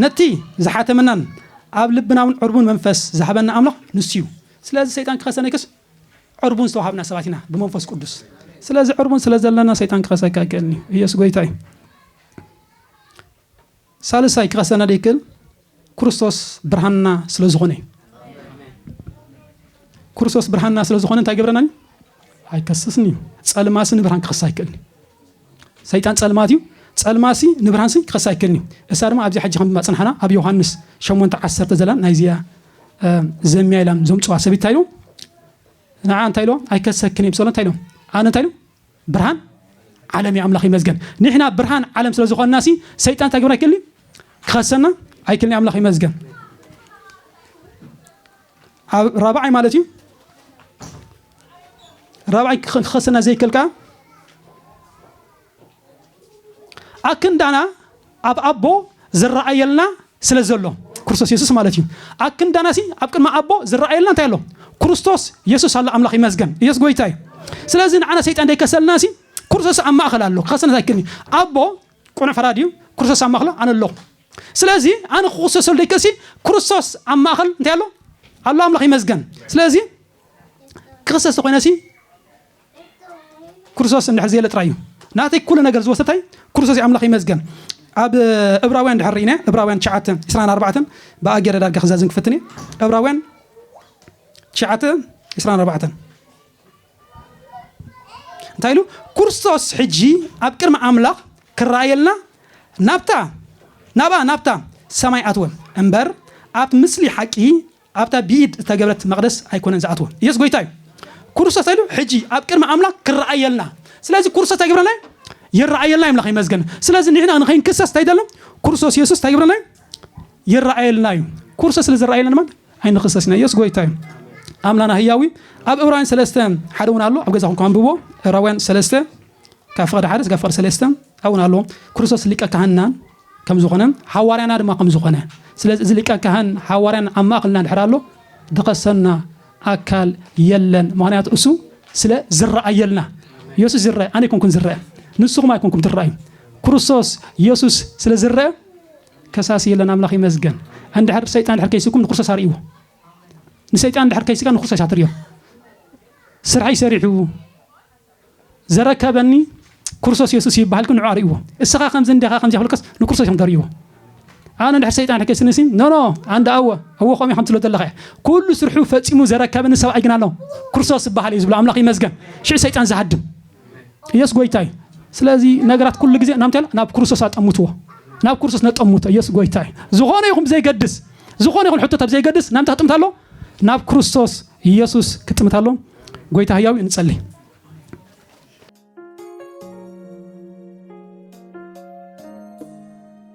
ነቲ ዝሓተመናን ኣብ ልብናውን ዕርቡን መንፈስ ዝሃበና ኣምላኽ ንሱ እዩ ስለዚ ሰይጣን ክኸሰነይክስ ዕርቡን ዝተዋሃብና ሰባት ኢና ብመንፈስ ቅዱስ ስለዚ ዕርቡን ስለ ዘለና ሰይጣን ክኸሰካ ኣይክእልን እዩ ኢየሱስ ጎይታ እዩ ሳልሳይ ክኸሰና ደይክእል ክርስቶስ ብርሃንና ስለ ዝኾነ እዩ ክርስቶስ ብርሃንና ስለ ዝኾነ እንታይ ገብረና እዩ ኣይከስስን እዩ ጸልማሲ ንብርሃን ክኸስ ኣይክእልን እዩ ሰይጣን ጸልማት እዩ፣ ጸልማትሲ ንብርሃንሲ ክኸስስ ኣይክእልን እዩ። እሳ ድማ ኣብዚኣ ሕጂ ከም ኣጽናሕና ኣብ ዮሃንስ ሸሞንተ ዓሰርተ ዘላን ናይዚኣ ዘምያ ኢላም ዘምጽዋ ሰብይቲ እንታይ ኢሎም ንዓ እንታይ ኢሎም ኣይከሰክን እዮም ሰሎ እንታይ ኢሎም ኣነ እንታይ ኢሎም ብርሃን ዓለም እዩ ኣምላኽ ይመዝገን ንሕና ብርሃን ዓለም ስለ ዝኾንና ሲ ሰይጣን እንታይ ግብር ኣይክእል ክኸሰና ኣይክልን ኣምላኽ ይመዝገን ኣብ ራብዓይ ማለት እዩ ራብዓይ ክኸሰና ዘይከል ከኣ ኣክንዳና ኣብ ኣቦ ዝረኣየልና ስለ ዘሎ ክርስቶስ የሱስ ማለት እዩ ኣክንዳና ሲ ኣብ ቅድሚ ኣቦ ዝረኣየልና እንታይ ኣሎ ክርስቶስ የሱስ ኣሎ ኣምላኽ ይመስገን ኢየሱስ ጎይታ እዩ ስለዚ ንዓና ሰይጣን ደይከሰልና ሲ ክርስቶስ ኣብ ማእኸል ኣሎ ክኸሰና ኣይክእልን እዩ ኣቦ ቁኑዕ ፈራዲ እዩ ክርስቶስ ኣብ ማእኸሎ ኣነ ኣለኹ ስለዚ ኣነ ክቁሰሰሉ ደይከሲ ክርስቶስ ኣብ ማእኸል እንታይ ኣሎ ኣሎ ኣምላኽ ይመስገን ስለዚ ክክሰስ ተኮይነሲ ክርስቶስ እንድሕር ዘየለ ጥራይ እዩ ናተይ ኩሉ ነገር ዝወሰደ እንታይ ክርስቶስ እዩ ኣምላኽ ይመስገን ኣብ እብራውያን ድሕር ርኢነ እብራውያን ትሽዓተ ዕስራን ኣርባዕተን ብኣ ገይረ ዳርጋ ክዛዝም ክፍትን እየ እብራውያን ትሽዓተ ዕስራን ኣርባዕተን እንታይ ኢሉ ክርስቶስ ሕጂ ኣብ ቅድሚ ኣምላኽ ክረኣየልና ናብታ ናብኣ ናብታ ሰማይ ኣትወ እምበር ኣብቲ ምስሊ ሓቂ ኣብታ ብኢድ ዝተገብረት መቕደስ ኣይኮነን ዝኣትወ ኢየሱስ ጎይታ እዩ ክርስቶስ እንታይ ኢሉ ሕጂ ኣብ ቅድሚ ኣምላኽ ክረኣየልና ስለዚ ክርስቶስ እንታይ ይገብረና ይረኣየልና እዩ ኣምላኽ ይመስገን ስለዚ ንሕና ንኸይንክሰስ እንታይ ይደሎ ክርስቶስ ኢየሱስ እንታይ ይገብረና ይረኣየልና እዩ ክርስቶስ ስለ ዝረኣየልና ድማ ኣይንኽሰስናዮስ ጎይታ እዩ ኣምላና ህያዊ ኣብ እብራውያን ሰለስተ ሓደ እውን ኣሎ ኣብ ገዛ ኩንኩ ኣንብቦ እብራውያን ሰለስተ ካብ ፍቅዲ ሓደ ስጋብ ፍቅዲ ሰለስተ ኣብ እውን ኣሎ ክርስቶስ ሊቀ ካህንና ከም ዝኾነ ሓዋርያና ድማ ከም ዝኾነ ስለዚ እዚ ሊቀ ካህን ሓዋርያን ኣብ ማእኸልና ድሕር ኣሎ ድኸሰና ኣካል የለን ምክንያቱ እሱ ስለ ዝረኣየልና የሱስ ዝረአ ኣነ ይኮንኩን ዝረአ ንስኹም ኣይኮንኩም ትረኣዩ ክርስቶስ የሱስ ስለ ዝረአ ከሳሲ የለን ኣምላኽ ይመስገን ኣንድሕር ብሰይጣን ድሕር ከይስኩም ንክርስቶስ ኣርእይዎ ንሰይጣን ድሕር ከይስካ ንክርስቶስ ኣትርዮ ስርሐይ ሰሪሑ ዘረከበኒ ክርስቶስ የሱስ እዩ ይበሃልኩ ንዑ ኣርእይዎ እስኻ ከምዚ እንዲኻ ከምዚ ክብልከስ ንክርስቶስ እዮም ተርእይዎ ኣነ ድሕር ሰይጣን ሕከ ስንሲ ኖኖ ኣንዳ ኣወ ኣወ ከምኡ ከም ትሎ ዘለኻ እያ ኩሉ ስርሑ ፈፂሙ ዘረከበኒ ሰብኣይ ግን ኣሎ ክርስቶስ ዝበሃል እዩ ዝብሎ ኣምላኽ ይመስገን ሽዕ ሰይጣን ዝሃድም ኢየሱስ ጎይታ እዩ ስለዚ ነገራት ኩሉ ግዜ ናምታይ ኣሎ ናብ ክርስቶስ ኣጠምትዎ ናብ ክርስቶስ ነጠምቶ ኢየሱስ ጎይታ እዩ ዝኾነ ይኹን ብዘይገድስ ዝኾነ ይኹን ሕቶት ኣብ ዘይገድስ ናምታይ ክጥምት ኣሎ ናብ ክርስቶስ ኢየሱስ ክጥምት ኣሎ ጎይታ ህያው ንጸልይ